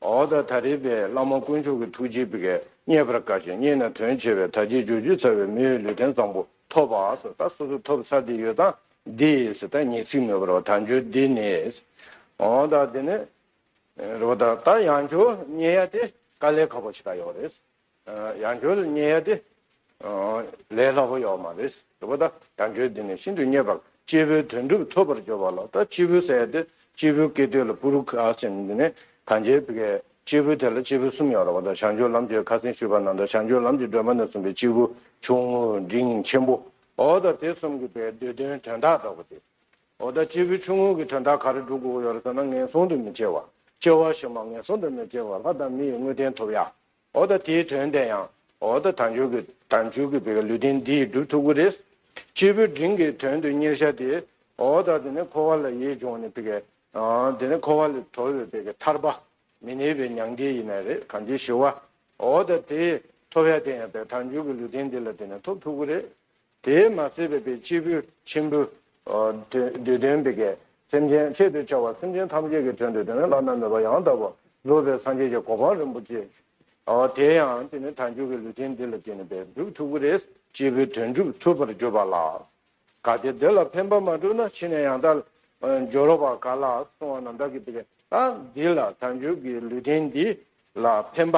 འོ་ད་ད་རེས་པའི་བླ་མ་དཀོན་མཆོག་གི་ཐུགས་རྗེས་བཀའ་རྙེད་པར་དཀའ་ཞིང་རྙེད་ན་དོན་ཆེ་བས་ད་རྗེས་འཇོག་ཅུས་ཚར་བའི་མི་འོས་ལུས་རྟེན་བཟང་པོ་ཐོབ་པ་སོ་ད་སོ་སོ་ཐོབ་ཚར་དེ་ཡོད་སྟངས་འདི་སོ་ད་ཉེས་ཚིག་མེད་པར་རོ་ད་འཇོག་འདི་ནི་འོ་ད་འདི་ནི་རོ་ད་ད་ཡང་འཇོག་རྙེད་ཡ་དེ་དཀའ་ལས་ཁག་པོ་ཞིག་ད་ཡོད་རེད་ཡང་ཁྱོད་ལ་མཉན་ཡ་དེ་ལས་སླ་པོ་ཡོད་མ་རེད། དེ་བས་ད་ཡང་ཁྱོད་འདི་ནས་ཤིན་ཏུ་མཉེས་པར་སྐྱེས་བུའི་དོན་འགྲུབ་ཐོབ་པར་འགྱུར་བ་ལ་ད་སྐྱེས་བུ་ཟེར་ཡ་དེ་སྐྱེས་བུའི་སྐད་དོད་ལ་པུ་རུ་ཁ་ཟིན་ནི་གངས་ཅན་པའི་སྐྱེས་བུ་དེ་ལ་སྐྱེས་བུ་གསུམ་ཡོད་རེད་བ་ད་བྱང་ཆུབ་ལམ་གྱི་ཁ་ཟིན་ཞུས་པ་ན་ད་བྱང་ཆུབ་ལམ་གྱི་སྒྲོན་མ་ནས་གསུངས་པའི་སྐྱེས་བུ་ཆུང་ངུ་འདི་ཉིད་ཆེན་པོའོ་ད་དེ་གསུམ་གྱི་བའི་འདོད་དོན་དོན་དག་དག་པོ་དེའོ་ད་སྐྱེས་བུ་ཆུང་ངུ་གྱི་དོན་དག་ག་རེ་སྒྲུབ་དགོས་ཀྱི་ཡོད་རེད་ཟེར་ན་ངན་སོང་དུ་མི་སྐྱེ་བ་སྐྱེ་བ་ཞིག་མ་ངན་སོང་དུ་མི་སྐྱེ་བ་ལྷ་དང་མི་ཡི་དངོས་བསྟན་ཐོབ་ཡ། འོ་ད་དེའི་དོན་དེ་ཡང་འོ་ད་དང་ཆོས་ཀྱི་དང་ཆོས་ཀྱི་བུ་ག་ལུས་རྟེན་འདི་ཡི་སྒྲུབ་ཐུགས་ཀྱི་རེས་སྤྱི་བོའི་འབྲིང་གི་དོན་དུ་གཉེར་བྱ་སྟེ། འོ་ད་དེ་ནི་འཁོར་བ་ལ་ཡིད་འབྱུང་ནི་བུ་ག། དེ་ནི་འཁོར་བ་ལས་གྲོལ་བའི་བུ་ག་ཐར་པ་མི་གནས་པའི་མྱང་འདས་ཡིན་ན་རེ་གང་ཅིའི་ཞི་བ། འོ་ད་དེ་ཐོབ་བྱ་དེ་ཡང་བས་དང་ཆོས་ཀྱི་ལུས་རྟེན་འདི་ལ་དེ་ནི་ཐོབ་ཐུགས་ཀྱི་རེས་དེས་མ་བསད་པའི་བའི་སྐྱེས་བུ་ཆེན་པོའི། དུས་སྟོན་པའི་གེགས་སེམས་ཅན་ཆེད་དུ་བྱ་བ་སེམས་ཅན་ཐམས་ཅད་ཀྱི་དོན་དུ་དེ་ནས་བླ་ན་མེད་པ་ཡང་དག་པར་རྫོགས་པའི་སངས་རྒྱས་ཀྱི་གོ་འཕང་རིན་པོ་ཆེ། དེ་ཡང་དེ་ནས་དལ་འབྱོར་གྱི་ལུས་ཅན་འདི་ལ་བརྟེན་ནས་པའི་སྒྲུབ་ཐུབ་ཀྱི་རེད། སྐྱེས་བུའི་དོན་སྒྲུབ་ཐུབ་པར་གྱུར་པ་ལགས། གལ་ཏེ་འདི་ལ་ཕན་པ་མ་གྲུབ་ན་ཕྱིས་ནས་ཡང་དལ་འབྱོར་བ་ག་ལ་སོང་བ་ན་བདག་གིས་དེ་ལ་འདི་ལ་དལ་འབྱོར་གྱི་ལུས་རྟེན་འདི་ལ་ཕན་པ་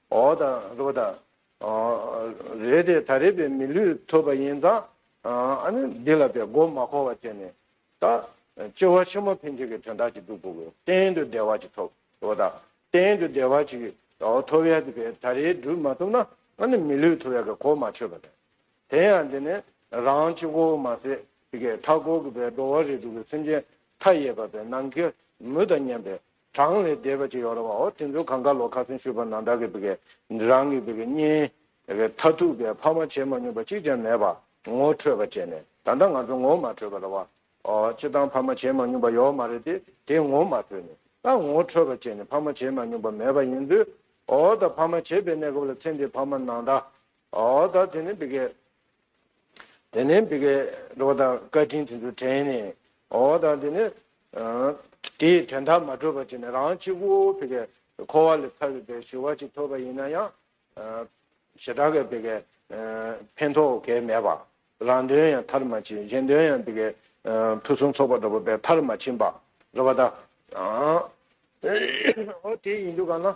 འོ་དང་རོ་དང། རེད་དེ་ད་རེད་པའི་མི་ལུས་ཐོབ་པ་ཡིན་ཙང། འདི་ལ་པའི་མགོ་མ་འཁོར་བ་དེ་ནས། ད། སྐྱེ་བ་ཆེན་མོ་འཕེན་བྱེད་ཀྱི་དོན་དག་ཅིག་འདུག་གོ། གཏན་དུ་བདེ་བ་ཅིག་ཐོབ། འོ་དང། གཏན་དུ་བདེ་བ་ཅིག། ཐོབ་ཡ་དེ་པས་ད་རེད་སྒྲུབ་མ་ཐུབ་ན། མི་ལུས་ཐོབ་ཡ་གི་གོ་མ་ཆོད་པ་རེད། དེ་ཡང་འདི་ནི། རང་སྤྱི་གོ་བོ་མ་ཟད། མཐའ་འཁོར་གྱི་པའི་འགྲོ་བ་རིས་དྲུག་གི་སེམས་ཅན་མཐའ་ཡས་པ་པའི་ནང་ཁེལ་མུ་དང་མཉམ་པའི། གྲངས་ལས་འདས་པ་ཅིག་ཡོད་རེད་བའོ། དེ་ཚོ་གང་དགའ་ལོ་ཁ་སེང་ཤོད་པ་ནང་བདག་གི་རང་གི་གཉེན་མཐའ་ཐུག་པའི་ཕ་མ་བྱེད་མ་མྱོང་པ་གཅིག་ཀྱང་མེད་པ་ངོ་འཕྲོད་པ་བྱས་ནས་ད་ལྟ་ང་ཚོ་ངོ་མ་འཕྲོད་པ་རེད་བ། སྤྱིར་བཏང་ཕ་མ་བྱེད་མ་མྱོང་པ་ཡོད་མ་རེད་དེ་དེ་ངོ་མ་འཕྲོད་ནས་ད་ངོ་འཕྲོད་པ་བྱས་ནས་ཕ་མ་བྱེད་མ་མྱོང་པ་མེད་པ་ཡིན་དུས་ད་ཕ་མ་བྱེད་པའི་གནས་སྐབས་ལ་ཚེ་འདི་ཕ་མ་ནང་བདག་ད་དེ་ནི་དེ་ནས་འདི་གའི་ལོ་དང་བཀའ་དྲིན་དེ་ཚོ་དྲན་ནས་འོ་དང་དེ་ནས་དེའི་དོན་དག་མ་གྲུབ་པ་བྱས་ནས་རང་གཅིག་པུ་བི་གའི་འཁོར་བ་ལས་ཐར་བའི་བའི་ཞུ་བ་ཅིག་ཐོབ་པ་ཡིན་ན་ཡང་ཞེ་དྲག་གི་བི་གའི་ཕན་ཐོགས་གལ་མེད་པ། རང་དོན་ཡང་མཐར་མ་ཕྱིན་གཞན་དོན་ཡང་བི་གའི་ཕུན་སུམ་ཚོགས་པ་འགྲོ་བའི་མཐར་མ་ཕྱིན་པ་རེད་པ་དང། འོ་དེ་ཡིན་དུ་ག་ན།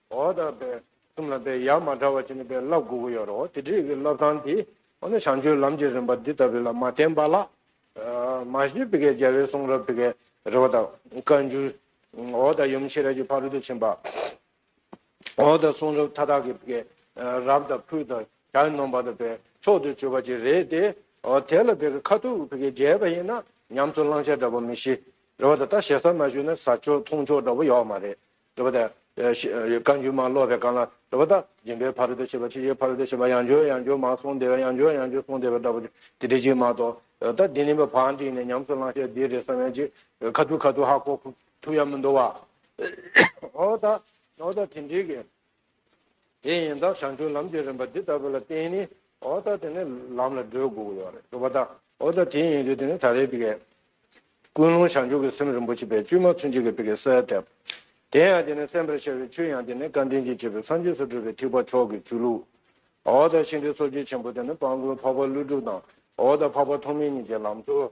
འོ་ད་པའི་གསུམ་ལ་པའི་ཡ་མ་འདྲ་བ་ཅི་ནས་པའི་བསླབ་དགུ་དགུ་ཡོད་རོ། དེ་དྲིས་ཀྱི་བསླབ་སྟངས་དེ་འོ་ན་བྱང་ཆུབ་ལམ་གྱི་རིམ་པ་འདི་ལྟ་བུ་ལ་མ་བརྟེན་པ་ལ། མ་ཤེས་པའི་གེགས་རྒྱལ་བའི་གསུང་རབ་ཀྱི་རེ་བ་དང་བཀའ་འགྱུར། འོ་ད་ཡུམ་ཤེས་རབ་ཀྱི་ཕ་རོལ་ཏུ་ཕྱིན་པ། འོ་ད་གསུང་རབ་མཐའ་དག་གི་གེགས་རབ་དང་ཕུལ་དང་བྱ་ཡི་ནོངས་པ་དང་པའི་མཆོག་ཏུ་གྱུར་པ་ཅིག་རེད་དེ། དེ་ལ་པའི་ཁ་ཐུག་གེགས་རྒྱལ་བ་ཡིན་ན་ཉམས་སུ་བླང་བྱ་འདྲ་པོ་མི་ཤེས། རེ་བ་དང་ལྟ་ཞེ་ས་མ་ཞུས་ན་ཟ་ཆོག་འཐུང་ཆོག་འདྲ་པོ་ཡོད་མ་རེད། རེ་བ་དང། བཀའ་འགྱུར་མ་ཀློག་པའི་སྐབས་ན་རེ་བ་དང། སྦྱིན་པའི་ཕ་རོལ་ཏུ་ཕྱིན་པ་ཕྱིན་ཆད་ཕ་རོལ་ཏུ་ཕྱིན་པ་ཡང་འབྱོར་ཡང་འབྱོར་མ་སོང་བདེ་བ་ཡང་འབྱོར་ཡང་འབྱོར་སོང་བདེ་བ་འདྲ་པོ་དེ་འདྲ་གཅིག་མ་གཏོགས། ད་འདི་ནི་བག་འགྲིགས་ནས་ཉམས་སུ་བླང་ཤེས་འདི་རེད་བསམ་ཡང་ཅི། ཁ་ཐུག་ཁ་ཐུག་ཧ་གོ་ཐུག་ཡ་མི་འདུག་བ། འོ་ད། འོ་ད་དེ་འགྲིགས། དེ་ཡིན་དང་བྱང་ཆུབ་ལམ་གྱི་རིམ་པ་འདི་ལྟ་བུ་ལ་བརྟེན་ནས་འོ་ད་དེ་ནི་ལམ་ལ་བགྲོད་དགོས་ཀྱི་ཡོད་རེད་འདུག་པ་ད་འོ་ད་དེ་ཡིན་དུས་དེ་ནི་ད་རེས་པི་ཀའི་ཀུན་སློང་བྱང་ཆུབ་ཀྱི་སེམས་རིན་པོ་ཆེ་པའི་བཅུད་མ་ཚུན་ཆད་ཀྱི་པི་ཀའི་སའི་དེབ་དེ་ཡང་དེ་ནི་གསན་པར་བྱ་བའི་ཆུ་ཡང་དེ་ནི་བཀའ་དྲིན་གྱིས་བྱས་པའི་སངས་རྒྱས་སུ་གྲུབ་པའི་ཐེག་པ་མཆོག་གི་ཆུ་ལུགས་འོ་ད་ཤིང་རྟའི་འཚོ་བཅུད་ཆེན་པོ་དེ་ནི་སྤང་དགོན་འཕགས་པ་ཀླུ་སྒྲུབ་དང་འོ་ད་འཕགས་པ་ཐོགས་མེད་གཉིས་ཀྱི་ལམ་འཚོལ་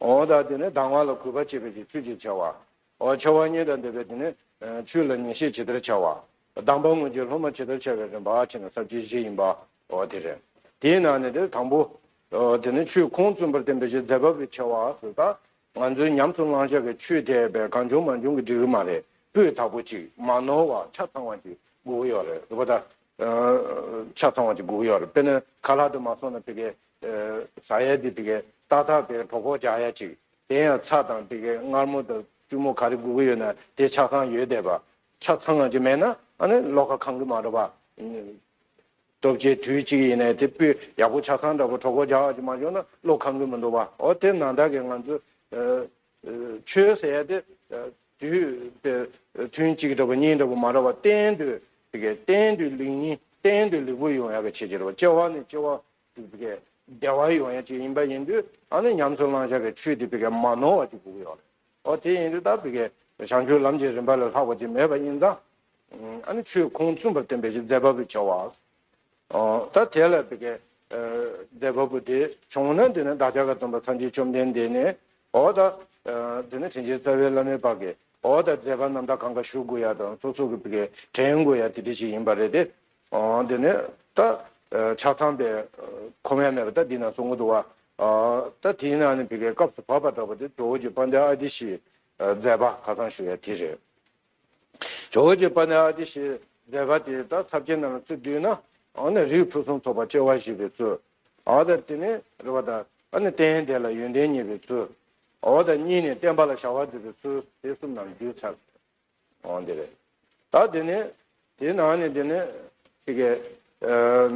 འོ་ད་དེ་ནི་ལྡང་བ་ལ་གུས་པ་བྱེད་པའི་ཀྱི་ཆོས་ཅེས་བྱ་བ། འོ་ཆོ་བ་གཉིས་དང་ལྡན་པའི་དེ་ནི་ཆོས་ལ་ངེས་ཤེས་ཇི་ལྟར་བྱ་བ། ལྡང་བ་སྔོན་གྱི་སློབ་མ་ཇི་ལྟར་བྱ་བའི་རིམ་པ་ཕྱི་ནང་ཟབ་ཆོས་བཞི་ཡིན་པ། འོ་དེ་རེད། དེའི་ནང་ནས་དེ་དང་པོ། དེ་ནི་ཆོས་ཁུངས་བཙུན་པར་བསྟན་པའི་གཞི་འཛད་བབས་ཀྱི་བྱ་བ་སུ་ད། ང་ཚོས་ཉམས་སུ་བླང་བྱ་གི་ཆོས་དེ་བས་གང་བྱུང་མ་བྱུང་གི་འགྲིག་གི་མ་རེད་པོས་དག་པོ་ཅིག་མ་ནོར་བ་ཆ་ཚང་བ་ཅིག་སྒུག་གི་ཡོད་རེད་པོ་ད། ཆ་ཚང་བ་ཅིག་སྒུག་གི་ཡོད་རེད་པས་ན་ག་ལ་དུ་མ་སོང་ན་དེ་གའི་བཟའ་ཡ་དེ་དེ་གའི་རྟ་ཐག་དེ་གྲོགས་པོ་རྒྱག་ཡ་ཅིག་དེ་ཡང་ཚ་དང་དེ་གའི་མངར་མོ་དང་བཙུན་མོ་ག་རེ་དགོས་ཀྱི་ཡོད་ན་དེ་ཆགས་ཚང་ཡོད་བསྡད་པ་ཆགས་ཚང་ང་ཅིག་མེད་ན་ཨ་ནི་བློ་ཁ་གང་གི་མ་འགྲོ་བ། སྟོབས་ཆེ་དུས་གཅིག་ཡིན་ནའི་དེ་སྤུས་ཡག་པོ་ཆགས་ཚང་འདྲ་པོ་གྲོགས་པོ་རྒྱག་ཡ་ཅིག་མ་བྱུང་ན་བློ་གང་གི་མི་འགྲོ་བ་ཨོ་དེ་ན་ད་གའི་ང་ཚོ་ཆོས་ཟེར་ཡ་དེ་དུས་དེ་ཐུན་གཅིག་འདྲ་པོ་གཉིས་འདྲ་པོ་མ་ར་བ་གཏན་དུ་དེ་གའི་གཏན་དུ་ལིག་གཉིས་གཏན་དུ་ལིག་པོ་ཡོང་ཡ་ག་བྱེད་ཀྱི་རེད་བ་སྐྱེ་བ་ནས་སྐྱེ་བ་ཅིག་བི་གའི་བདེ་བ་ཡོང་ཡ་ཅིག་ཡིན་པ་ཡིན་དུས་ཨ་ནི་ཉམས་སུ་བླང་བྱ་བའི་ཆོས་དེ་བི་གའི་མ་ནོར་བ་ཅིག་བསྒུག་ཡོད་རེད། ཨོ་དེ་ཡིན་དུས་ད་བི་གའི་བྱང་ཆུབ་ལམ་གྱི་རིམ་པ་ལས་ལྷག་པ་ཅིག་མེད་པ་ཡིན་ཙང། ཨ་ནི་ཆོས་ཁུངས་བཙུན་པར་བསྟན་པའི་གཞི་རྫས་བ་བུ་བྱ་བ། ད་དེ་ལ་བི་གའི་རྫས་བ་བུ་དེ་བྱུང་ན་དེ་ནི་བདག་ཅག་གི་སྟོན་པ་ཚངས་ཀྱི་བཅོམ་ལྡན་འདས་ནི། ཨོ་ད། དེ་ནི་དྲིན་ཅན་རྩ་བའི་བླ་མའི་བར་གྱི་ཨོ་ད་རྫས་བ་རྣམས་ད་གང་ག་བཞུགས་དགོས་ཡ་དང་སོ་སོ་གི་བི་གའི་དྲན་དགོས་ཡ་དེ་དྲི་ཞིག་ཡིན་པ་རེད་དེ། འདི་ནི་ད་ཆགས་ཚངས་པའི་ཁོ་བོའི་མེད་པ་ད་འདི་ན་གཟུགས་མི་འདུག་བ། ད་དེའི་ནང་ནས་བི་གའི་སྐབས་སུ་བབ་པ་འདྲ་བ་དེ་ཇོ་བོ་རྗེ་པཎྜི་ཏའི་ཨ་ཏི་ཤའི་མཛད་པ་ཁ་སང་ཞུ་བའི་དེ་རེད། ཇོ་བོ་རྗེ་པཎྜི་ཏའི་ཨ་ཏི་ཤའི་མཛད་པ་དེ་ད་ཚབས་ཆེན་རྣམས་ལ་ཚུལ་བསྡུས་ན་འོ་ན་རིགས་ཕུན་སུམ་ཚོགས་པ་སྐྱེ་བ་བཞི་པའི་ཚུལ། འོ་ད་དེ་ནི་རེ་བ་དང་འོ་ན་རྟེན་དེ་ལ་ཡོན་ཏན་གཉིས་པའི་ཚུལ། འོ་ད་གཉིས་ནི་བསྟན་པ་ལ་བྱ་བ་མཛད་པའི་ཚུལ་དེ་གསུམ་རྣམས་བསྡུས་ཚར། ཨོ་འདི་རེད། ད་འདི་ནི། དེའི་ནང་ནས་འདི་ནི། དེ་གའི།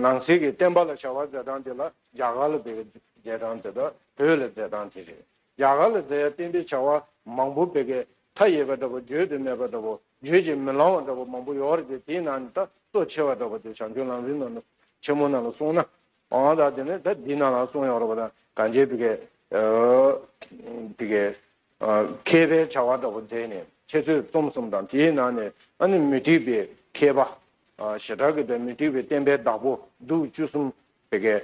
ནང་གསེས་ཀྱི་བསྟན་པ་ལ་བྱ་བ་མཛད་སྟངས་དེ་ལ་རྒྱ་གར་ལ་དེ་གའི་མཛད་སྟངས་དེ་དང་བོད་ལ་མཛད་སྟངས་དེ་རེད། རྒྱ་གར་ལ་མཛད་བསྟན་པའི་བྱ་བ་མང་པོ་བད་གའི་མཐའ་ཡས་པ་འདྲ་པོ་བརྗོད་དུ་མེད་པ་འདྲ་པོ་བརྗོད་ཀྱིས་མི་ལང་བ་འདྲ་པོ་མང་པོ་ཡོད་རེད་དེའི་ནང་ནས་ད་གཙོ་ཆེ་བ་འདྲ་པོ་དེ་བྱང་ཆུབ་ལམ་རིན་ནོ་ཆེན་མོ་རྣམས་ལ་གསུངས་ན། ཨོ་ད་འདི་ནི་ད་འདི་རྣམས་ལ་གསུངས་ཡོང་རོགས་པ་དང་གངས་ཅན་བད་གའི། བད་གའི། མཁས་པའི་བྱ་བ་འདྲ་བོ་མཛད་ནས་ཁྱེད་ཚོས་རྩོམ་གསུམ་དང་དེའི་ནང་ནས་ཨ་ནི་མི་འགྲིག་པའི་མཁས་པ། ཞེ་དྲག་གི་དོན་མི་འགྲིག་པའི་བསྟན་པའི་བདག་པོ་སྡུག་བཅུ་གསུམ་ཕེབས་མཁན་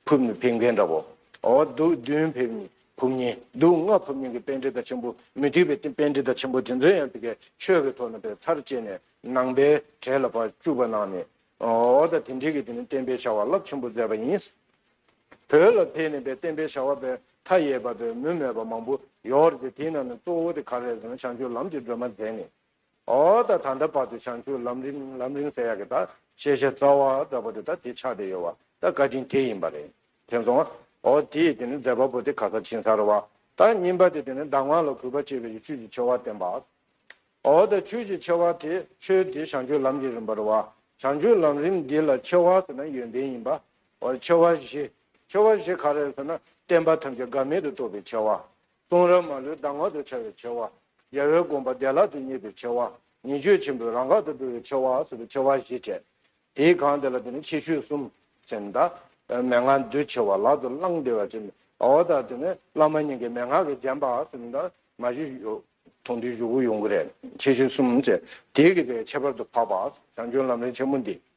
ཕུབ་ནི་ཕེབས་མཁན་འདྲ་བོ། འོ་སྡུག་བདུན་ཕེབས་ནི་ཕུབ་མཁན་སྡུག་ལྔ་ཕུབ་མཁན་གྱི་དཔེ་འདྲི་ད་ཆེན་པོ་མི་འགྲིག་པའི་དཔེ་འདྲི་ད་ཆེན་པོ་དེ་ཚོ་ཡང་དེ་གའི་ཆོས་ཀྱི་ཐོག་ནས་པའི་ཚར་བཅད་ནས་ནང་པའི་གྲལ་ལ་བར་བཅུག་པ་གནང་ནས་འོ་ད་དེ་འགྲིག་གི་དེ་ནི་བསྟན་པའི་བྱ་བ་རླབས་ཆེན་པོ་མཛད་པ་ཡིན། བོད་ལ་ཕེབས་ནས་པའི་བསྟན་པའི་བྱ་བ་པའི་མཐའ་ཡས་པ་པའི་མུ་མེད་པ་མང་པོ་ཡོད་རེད་དེའི་ནང་ནས་གཙོ་བོ་དེ་ག་རེད་ཟེར་ན་བྱང་ཆུབ་ལམ་གྱི་སྒྲོན་མ་མཛད་ནས་ཨོ་ད་ད་ལྟ་བར་དུ་བྱང་ཆུབ་ལམ་རིང་ལམ་རིང་ཟེར་ཡག་གི་ད་ཤེས་བྱ་རྩ་བ་འདྲ་པོ་དེ་ད་དེ་ཆགས་བསྡད་ཡོད་བ་ད་བཀའ་དྲིན་དེ་ཡིན་པ་རེད་དྲན་སོང་ཨོ་དེས་དེ་ནས་མཛད་པ་པོ་དེ་ག་ས་ཕྱིན་སར་བ་ད་རྙིང་པ་དེ་དེ་ནས་ཟླ་ངག་ལ་གུས་པ་བསྐྱེད་པའི་ཆོས་ཀྱི་ཆེ་བ་བསྟན་པ་ཨོ་ད་ཆོས་ཀྱི་ཆེ་བ་དེ་ཆོས་དེ་བྱང་ཆུབ་ལམ་གྱི་རིམ་པར་བ་བྱང་ཆུབ་ལམ་རིམ་འདི་ལ་ཆེ་བ་ཟེར་ན་ཡོན་ཏན་ཡིན་པ་བར་ཆེ་བ་བཞི། ཆེ་བ་བཞི་ག་རེ་ཟེར་ན། བསྟན་པ་ཐམས་ཅད་དགའ་མེད་དུ་སྟོབས་པའི་ཆེ་བ། གསུང་རབ་མ་ལུས་གདམས་ངག་ཏུ་འཆར་བའི་ཆེ་བ། རྒྱལ་བའི་དགོངས་པ་བདེ་བླག་ཏུ་རྙེད་པའི་ཆེ་བ། ཉེས་སྤྱོད་ཆེན་པོའི་རང་འགག་ཏུ་འགྲོ་བའི་ཆེ་བ་སོགས་ཀྱི་ཆེ་བ་བཞི་བྱས། དེའི་གང་དེ་ལ་དེ་ནི་ཆེ་ཤོས་གསུམ་ཟེར། མདའ། མན་ངག་འདུལ་ཆེ་བ་ལག་ཏུ་བླང་བདེ་བ་བྱས། ཨོ་ད་དེ་ནི་བླ་མ་སྙིང་གའི་མན་ངག་གིས་བརྒྱན་པ་ཟེར། མདའ། མ་བཞི། མཐོང་ཐོས་བཞུགས་ཡོངས་གུ་རེ། ཆེ་ཤོས་གསུམ་བྱས། དེའི་གི་དེ་ཁྱད་པར་དུ་འཕགས་པ། བྱང་ཆུང་ལམ་རིམ་ཆེན་མོ་འདི།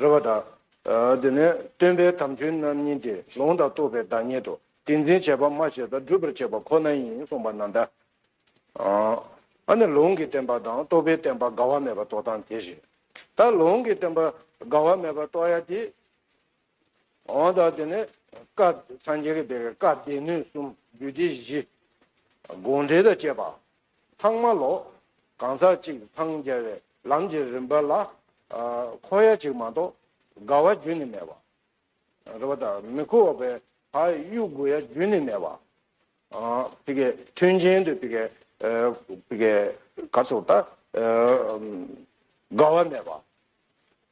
རེ་བ་དང། དེ་ནས་སྟོན་པའི་དམ་ཆོས་རྣམ་གཉིས་ཏེ་ལོང་དང་རྟོགས་པའི་བདག་ཉིད་དོ། ཏིང་འཛིན་བྱེད་པ་སྨྲ་བྱེད་དང་སྒྲུབ་པར་བྱེད་པ་ཁོ་ན་ཡིན་གསུངས་པ་ན་འདྲ། ཨ་ནི་ལོང་གིས་བསྟན་པ་དང་རྟོགས་པས་བསྟན་པ་དགའ་བ་མེད་པར་རྟོགས་དང་དེ་བཞིན་དུ། ལོང་གིས་བསྟན་པ་དགའ་བ་མེད་པར་རྟོགས་ཡ་དེ། འོང་དང་དེ་ནས་སྐབས་སངས་རྒྱས་ཀྱི་བདེ་བའི་བཀའ་སྡེ་སྣོད་གསུམ་རྒྱུད་སྡེ་བཞི། དགོངས་འགྲེལ་དང་བཅས་པ། ཚང་མ་ལོ། གང་ཟག་གཅིག་འཚང་རྒྱ་བའི་ལམ་གྱི་རིམ་པ་ལ། འཁོར་ཡ་གཅིག་མ་གཏོགས་དགའ་བ་རྒྱུན་ནི་མེད་པ། རེ་བ་དང་མི་འཁོར་བ་བའི་བག་ཡོད་དགུ་ཡ་རྒྱུན་ནི་མེད་པ། དེ་ཀའི་མཐུན་རྐྱེན་དུ་དེ་ཀའི་གར་སོགས་དག། དགའ་བ་མེད་པ།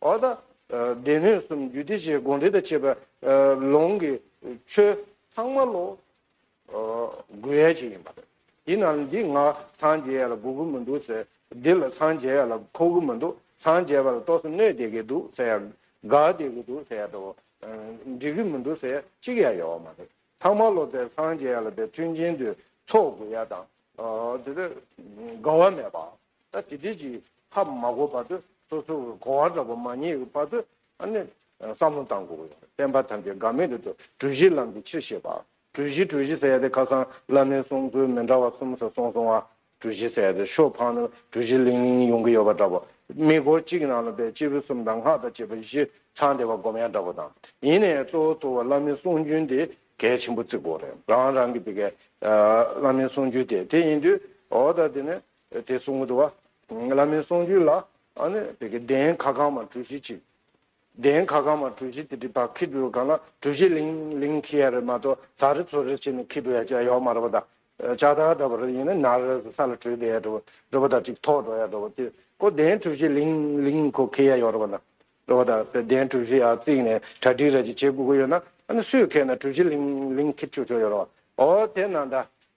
འོ་ད། སྡེ་སྣོད་གསུམ་རྒྱུད་སྡེ་བཞིའི་དགོངས་འགྲེལ་དང་བཅས་པའི། ལུང་གི་ཆོས། ཚང་མ་ལོ། དགུ་ཡལ་གྱི་ཡིན་པ་རེད། དེ་ན་ལ་འདི་ང་འཚང་རྒྱ་ཡལ་ལ་དགུ་དགུ་མི་འདུག་ཟེར། འདི་ལ་འཚང་རྒྱ་ཡལ་ལ་ཁོ་དགུ་མི་འདུག་འཚང་རྒྱ་བ་ལ་ཏོག་སེ་སྣོད་བསྡད་ཀྱི་འདུག་ཟེར་ཡ། དགའ་བསྡད་ཀྱི་འདུག་ཟེར་ཡ་དང། འགྲིག་གི་མི་འདུག་ཟེར་ཡ་གཅིག་ཡང་ཡོད་མ་རེད། ཚང་མ་ལོ་ཟེར་འཚང་རྒྱ་ཡལ་ལ་དེ་མཐུན་རྐྱེན་དུས་ཚོགས་དགུ་ཡལ་དང། དེ་དགའ་བ་མེད་པ། ད་དེ་དེ་གཅིག་ཧ་མ་གོ་བར་དུ་སོ་སོ་གི་གོ་བ་འདྲ་པོ་མ་རྙེད་པའི་བར་དུ་ཨ་ནི་བསམ་བློ་བཏང་དགོས་ཀྱི་ཡོད་བསྟན་པ་ཐམས་ཅད་འགག་མེད་དུ་འགྲོ་གྲུ་བཞིའི་ལམ་གྱི་ཕྱིར་ཞེས་པ། གྲུ་བཞི་གྲུ་བཞི་ཟེར་ཡ་དེ་ཁ་སང་བླ་མའི་གསུང་ཚུལ་མི་འདྲ་བ་གསུམ་ས་སོང་སོང་བ་གྲུ་བཞི་ཟེར་ཡ་དེ་ཤོ་འཕངས་ན་གྲུ་བཞི་ལིང་ལིང་ཡོང་གི་ཡོད་པ་འདྲ་པོ་མི་སྒོ་གཅིག་ནང་ལ་པའི་སྤྱི་བོའི་གསུམ་དང་སྔགས་དང་བཅས་པ་བཞི་ཚང་བདེ་བ་སྒོམ་ཡ་འདྲ་པོ་དང་ཡིན་ནའི་གཙོ་བོ་གཙོ་བོ་བླ་མའི་གསུང་རྒྱུན་དེ་གལ་ཆེན་པོ་བརྩི་དགོས་རེད་རང་རང་གི་དེ་གའི་བླ་མའི་གསུང་རྒྱུན་དེ་དེ་ཡིན་དུས་འོ་ད་དེ་ནས་དེ་གསུང་དུ། བླ་མའི་གསུང་རྒྱུན་ལ། གདན་ཁ་གང་མ་གྲུ་བཞི་བཅིངས། གདན་ཁ་གང་མ་གྲུ་བཞི་དེ་དྲིལ་བག་ཁི་ཏུ་གང་ལ་གྲུ་བཞི་ལིང་ལིང་ཁི་ཡ་རེ་མ་ཏོ་ཚ་རེ་ཚོ་རེ་བྱེད་ནི་ཁི་ཏུ་ཡ་ཅི་ཡའོ་མ་ར་བ་ད་ཅག་ད་ད་བ་ར་ཡིན་ན་ན་རེ་ས་ལ་གྲོལ་བདེ་ཡ་འགྲོ་འགྲོ་བ་ད་ཅིག་ཐོག་འགྲོ་ཡ་འགྲོ་བ་དེ་ཀོ་གདན་གྲུ་བཞི་ལིང་ལིང་ཁོ་ཁི་ཡ་ཡོ་ར་བ་ན་འགྲོ་བ་ད་གདན་གྲུ་བཞི་ཡ་བརྩིགས་ནས་གྲ་སྒྲིག་ར་ཅི་བྱེད་དགོས་གོ་ཡོད་ན་ཨ་ནི་སུས་ཁས་ན་གྲུ་བཞི་ལིང་ལིང་ཁི་ཆུ་ཆོ་ཡོ་ར་བ་ཨོ་དེ་ན་ད།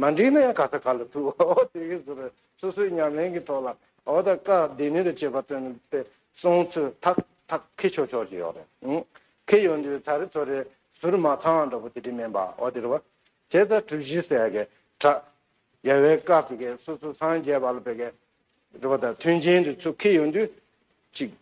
མ་འགྲིག་ན་ཡང་ག་ཚོད་ག་ལ་ཐུག་འོ་དེ་བཞིན་ཟུར་བས་སོ་སོའི་ཉམས་ལེན་གྱི་ཐོག་ལ་འོ་ད་བཀའ་བདེ་ནུས་ལ་བྱེད་པ་སྟོན་པའི་གསུང་ཚུལ་ཐག་ཐག་ཁེ་ཆོག་ཆོག་ཅིག་ཡོད་རེད། ཁེ་ཡོད་འདི་ཚ་རེ་ཚོ་རེ་ཟུར་མ་ཚང་བ་འདྲ་པོ་དེ་དྲིས་མིན་པ་འོ་དེ་རེད་བ། བྱས་ཙང་གྲུ་བཞི་ཟེར་གི་གྲགས། རྒྱལ་བའི་བཀའ་བི་གས་སོ་སོ་སངས་རྒྱས་པ་ལ་བི་གས། རེད་བ་ད་མཐུན་རྐྱེན་འདི་ཚུ་ཁེ་ཡོད་འདི། ཅིག།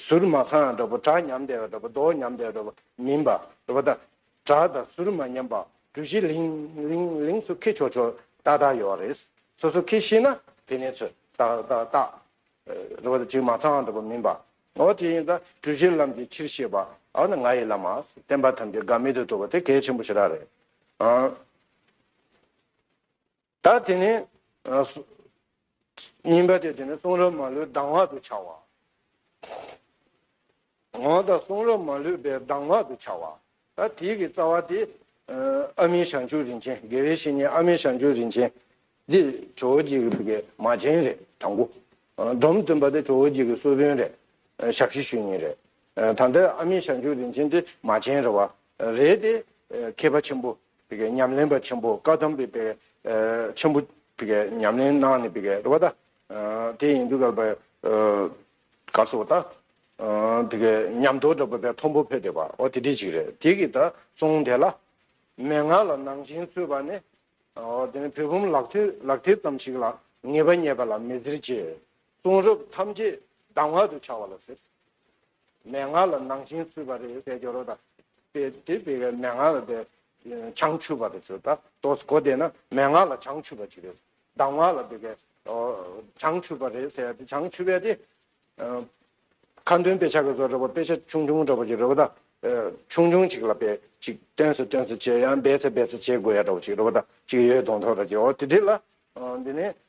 ཟུར་མ་ཚང་བ་འདྲ་པོ་གྲགས་ཉམས་དལ་བ་འདྲ་པོ་མདོག་ཉམས་དལ་བ་འདྲ་པོ་མིན་པ་རེད་བ་ད། བྲག་དང་ཟུར་མ་ཉམས་པ་གྲུ་བཞི་ལིང་ལིང་ལིང་སུ་ཁེ་ཆོག་ཆོག་ཏག་ཏག་ཡོད་རེད། སོ་སོ་ཁེ་ཤེས་ན་དེ་ནས་ཚོད་ཏག་ཏག་ཏག། རེད་བ་ད་ཅིག་མ་ཚང་འགྲོ་པ་མིན་པ། ཨོ་དེ་ཡིན་ད་གྲུ་བཞིར་ལམ་གྱི་ཕྱིར་ཤེས་པ་ཨོ་ན་ང་ཡི་བླ་མ་བསྟན་པ་ཐམས་ཅད་དགའ་མེད་དུ་འགྲོ་བ་དེ་གལ་ཆེན་པོ་ཞིག་ར་རེད། ད་དེ་ནི། སྙིམ་པ་དེ་དེ་ནི་གསུང་རབ་མ་ལུས་ལྡང་བ་དུ་བྱ་བ། འོང་དང་གསུང་རབ་མ་ལུས་པའི་ལྡང་བ་དུ་བྱ་བ། ད་དེ་གི་རྩ་བ་དེ། ཨ་མི་ཞང་ཆུ་རིན་ཆེན་དགེ་བའི་བཤེས་གཉེན་ཨ་མི་ཞང་ཆུ་རིན་ཆེན། འདི་ཁྲོ་བོ་རྗེ་གི་བུ་གའི་མ་ཅན་རེད་དང་པོ། འབྲོམ་སྟོན་པ་འདི་ཁྲོ་བོ་རྗེ་གི་གསོལ་དཔོན་རེད། ཞབས་ཕྱི་ཞུ་ཉིན་རེད། ད་ལྟའི་ཨ་མའི་ཞབས་འཇུག་རིན་ཆེན་དེ་མ་བྱན་རེད་བ། རེད་དེ། མཁས་པ་ཆེན་པོ། ཉམས་ལེན་པ་ཆེན་པོ་བཀའ་གདམས་པའི་དཔལ། ཆེན་པོ། ཉམས་ལེན་གནང་ནས་རེད་བ་ད། དེ་ཡིན་དུས་བ། གར་སོགས་ད། ཉམས་དོར་འདྲ་བ་བས་ཕོན་པོ་ཕོད་དེ་བ། འོ་དེ་འདྲི་ཅིག་རེད་དེ་གི་ད་གསུངས་དེ་ལ། མན་ངག་ལ་ནང་བཞིན་རྩོད་བ་ནི། འོ་དེ་ནི་བུ་བུམ་ལག་མཐིལ་ཙམ་ཞིག་ལ་ངེས་པ་རྙེད་པ་ལ་མི་ཟེར་ཅེས། གསུང་རབ་ཐམས་ཅད་སྡང་བ་དུ་བྱ་བ་ལ་ཟེར། མན་ངག་ལ་ནང་བཞིན་ཚུད་པ་རེད་ཟེར་རྒྱུ་རོ་ད། དེ་དེ་བས་མན་ངག་ལ་དེ་བྱང་ཆུབ་པ་རེད་ཟེར་ད་དོ་གོ་བདེ་ན་མན་ངག་ལ་བྱང་ཆུབ་པ་ཅིག་རེད། སྡང་བ་ལ་དེ་བྱང་ཆུབ་པ་རེད་ཟེར་ད་བྱང་ཆུབ་པས་དེ། ཁ་འདོན་དཔེ་ཆ་གི་སོགས་རེད་པོ་དཔེ་ཆ་ཆུང་ཆུང་འདྲ་བོ་ཅིག་རེད་པོ་ད། ཆུང་ཆུང་ཅིག་ལ་དཔེ་ཅིག་སྟོན་ཚེ་སྟོན་ཚེ་བྱེད་ཡང་སྦས་ཚེ་སྦས་ཚེ་བྱེད་དགོས་ཡ་འདྲ་བོ་ཅིག་རེད་པོ་ད་ཅིག་ཡོད་དོ་མཐོ་ར་ཅིག་འོ་དེ་དེ་ལ། འདི་ནི་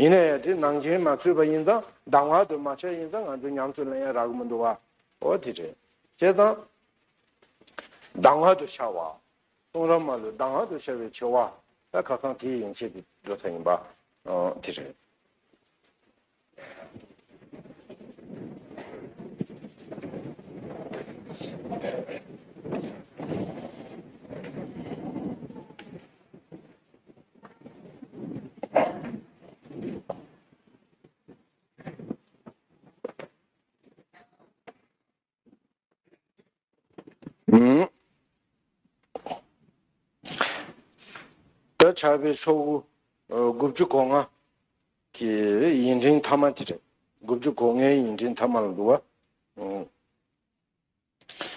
ཡིན་ན་ཡང་དེ་ནང་བྱན་མ་ཚུད་པ་ཡིན་ཙང་གདམས་ངག་དུ་མ་འཆད་ཡིན་ཙང་ང་ཚོས་ཉམས་སུ་ལེན་ཡ་རག་གི་མི་འདུག་བ། ཨོ་དེ་རེད། བྱས་ཙང། གདམས་ངག་ཏུ་ཤར་བ། གསུང་རབ་མ་ལུས་གདམས་ངག་ཏུ་ཤར་བའི་ཆེ་བ། ད་ཁ་སང་དེ་ཡན་ཆད་ཀྱི་འགྲོ་ས་ཡིན་པ། ཨོ་དེ་རེད། ད་ཆར་པའི་ཆོ་གུ་དགུ་བཅུ་གོ་ལྔ་གི་ཡིན་འབྲིང་ཐ་མ་དེ་རེད། དགུ་བཅུ་གོ་ལྔའི་ཡིན་འབྲིང་ཐ་མ་ལ་འདུ་བ།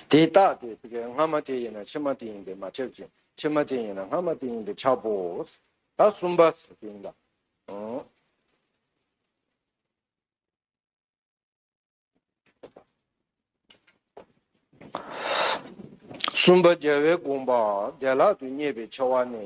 དེ་ལྟ་སྟེ་དེ་ཀའི་སྔ་མ་དེ་ཡིན་ན་ཕྱི་མ་དེ་ཡིན་པས་མ་ཁྱབ་ཅིང་ཕྱི་མ་དེ་ཡིན་ན་སྔ་མ་དེ་ཡིན་པས་ཁྱབ་བོ། ད་གསུམ་པ་ཟེར་བ་ཡིན་ལ། གསུམ་པ་རྒྱལ་བའི་དགོངས་པ་བདེ་བླག་ཏུ་རྙེད་པའི་ཆེ་བ་ནི།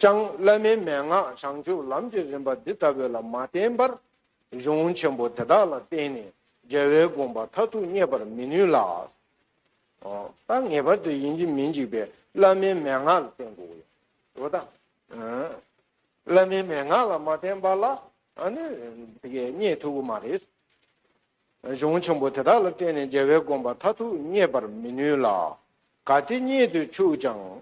ཅང། བླ་མའི་མན་ངག་བྱང་ཆུབ་ལམ་གྱི་རིམ་པ་འདི་ལྟ་བུ་ལ་མ་བརྟེན་པར། གཞུང་ཆེན་པོ་དེ་དག་ལ་བརྟེན་ནས་རྒྱལ་བའི་དགོངས་པ་མཐར་ཐུག་རྙེད་པར་མི་ནུས་ལ། ད་ངེས་པར་དུ་ཡིན་གྱི་མི་འཇིགས་པའི་བླ་མའི་མན་ངག་ལ་བརྟེན་དགོས་ཡོད་དོ། ད། བླ་མའི་མན་ངག་ལ་མ་བརྟེན་པ་ལ་ནི་དེ་ཀས་རྙེད་ཐུབ་ཀྱི་མ་རེད། གཞུང་ཆེན་པོ་དེ་དག་ལ་བརྟེན་ནས་རྒྱལ་བའི་དགོངས་པ་མཐར་ཐུག་རྙེད་པར་མི་ནུས་ལ། ག་དེ་རྙེད་དུ་ཆུག་ཀྱང།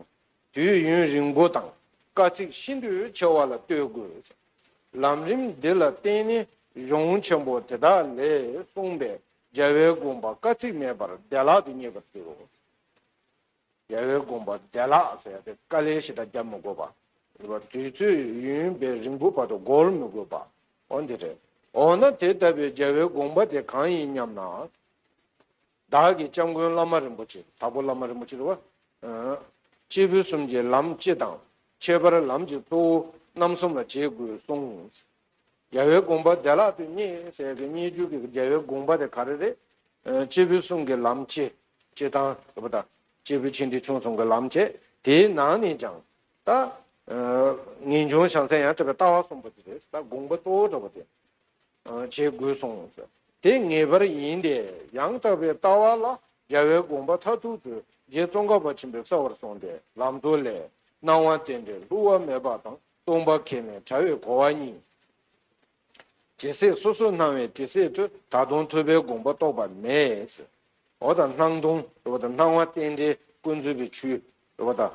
དུས་ཡུན་རིང་པོ་དང་དཀའ་ཚེགས་ཤིན་ཏུ་ཆེ་བ་ལ་ལྟོས་དགོས། ལམ་རིམ་འདི་ལ་བརྟེན་ནས་གཞུང་ཆེན་པོ་དེ་དག་ལས་གསུངས་པའི་རྒྱལ་བའི་དགོངས་པ་དཀའ་ཚེགས་མེད་པར་བདེ་བླག་ཏུ་རྙེད་པར་འགྱུར་རོ། རྒྱལ་བའི་དགོངས་པ་བདེ་བླག་ཟེར་ཡང་དེ་དཀའ་ལས་ཞེ་དྲག་བརྒྱབ་མི་དགོས་པ། དུས་ཚོད་ཡུན་བས་རིང་པོ་བར་དུ་འགོར་མི་དགོས་པ། འོ་འདི་རེད། འོ་ན་དེ་ལྟ་བུའི་རྒྱལ་བའི་དགོངས་པ་དེ་གང་ཡིན་སྙམ་ན། བདག་གི་སྐྱབས་མགོན་བླ་མ་རིན་པོ་ཆེ་དྭགས་པོ་བླ་མ་རིན་པོ་ཆེ་ལ། སྤྱིར་ཕུན་སུམ་གྱི་ལམ་སྤྱི་དང། ཁྱད་པར་ལམ་གྱི་གཙོ་བོ་རྣམ་གསུམ་ལ་བྱེད་དགོས་གསུངས། རྒྱལ་བའི་དགོངས་པ་བདེ་བླག་ཏུ་རྙེད་ཟེར་གི་རྙེད་རྒྱུ་གི་རྒྱལ་བའི་དགོངས་པ་དེ་ག་རེ་རེད། སྤྱིར་ཕུན་སུམ་གྱི་ལམ་སྤྱི། སྤྱི་དང། ཟེར་བ་དང། སྤྱིར་ཕུན་ཆེན་ཁྲི་ཆུང་གསུམ་གྱི་ལམ་བྱེད་དེའི་ནང་ནས་ཀྱང། ད། ངེས་འབྱུང་བྱང་སེམས་ཡང་དག་པའི་ལྟ་བ་གསུམ་པོ་དེ་རེད་ད་དགོངས་པ་གཙོ་བོ་འགྲོ་བ་དེ། བྱེད་དགོས་གསུངས། དེ་ངེས་པར་ཡིན་ཏེ་ཡང་དག་པའི་ལྟ་བ་ལ་རྒྱལ་བའི་དགོངས་པ་མཐར་ཐུག་ཏུ་རྗེ་ཙོང་ཁ་པ་ཆེན་པོས་གསལ་བར་གསུངས་ཏེ་ལམ་སྟོན་ལས། སྣང་བ་རྟེན་འབྲེལ་ལྷུར་བ་མེད་པ་དང་སྟོང་པ་ཁས་ལེན་བྲལ་བའི་གོ་བ་གཉིས། ཇི་སྲིད་སོ་སོར་སྣང་བའི་དེ་སྲིད་དུ་ད་དུང་ཐོས་པའི་དགོངས་པ་རྟོགས་པ་མེད། འོ་དང་སྣང་སྟོང། འོ་དང་སྣང་བ་རྟེན་འབྲེལ་ཀུན་རྩོད་པའི་ཆུ། འོ་དང།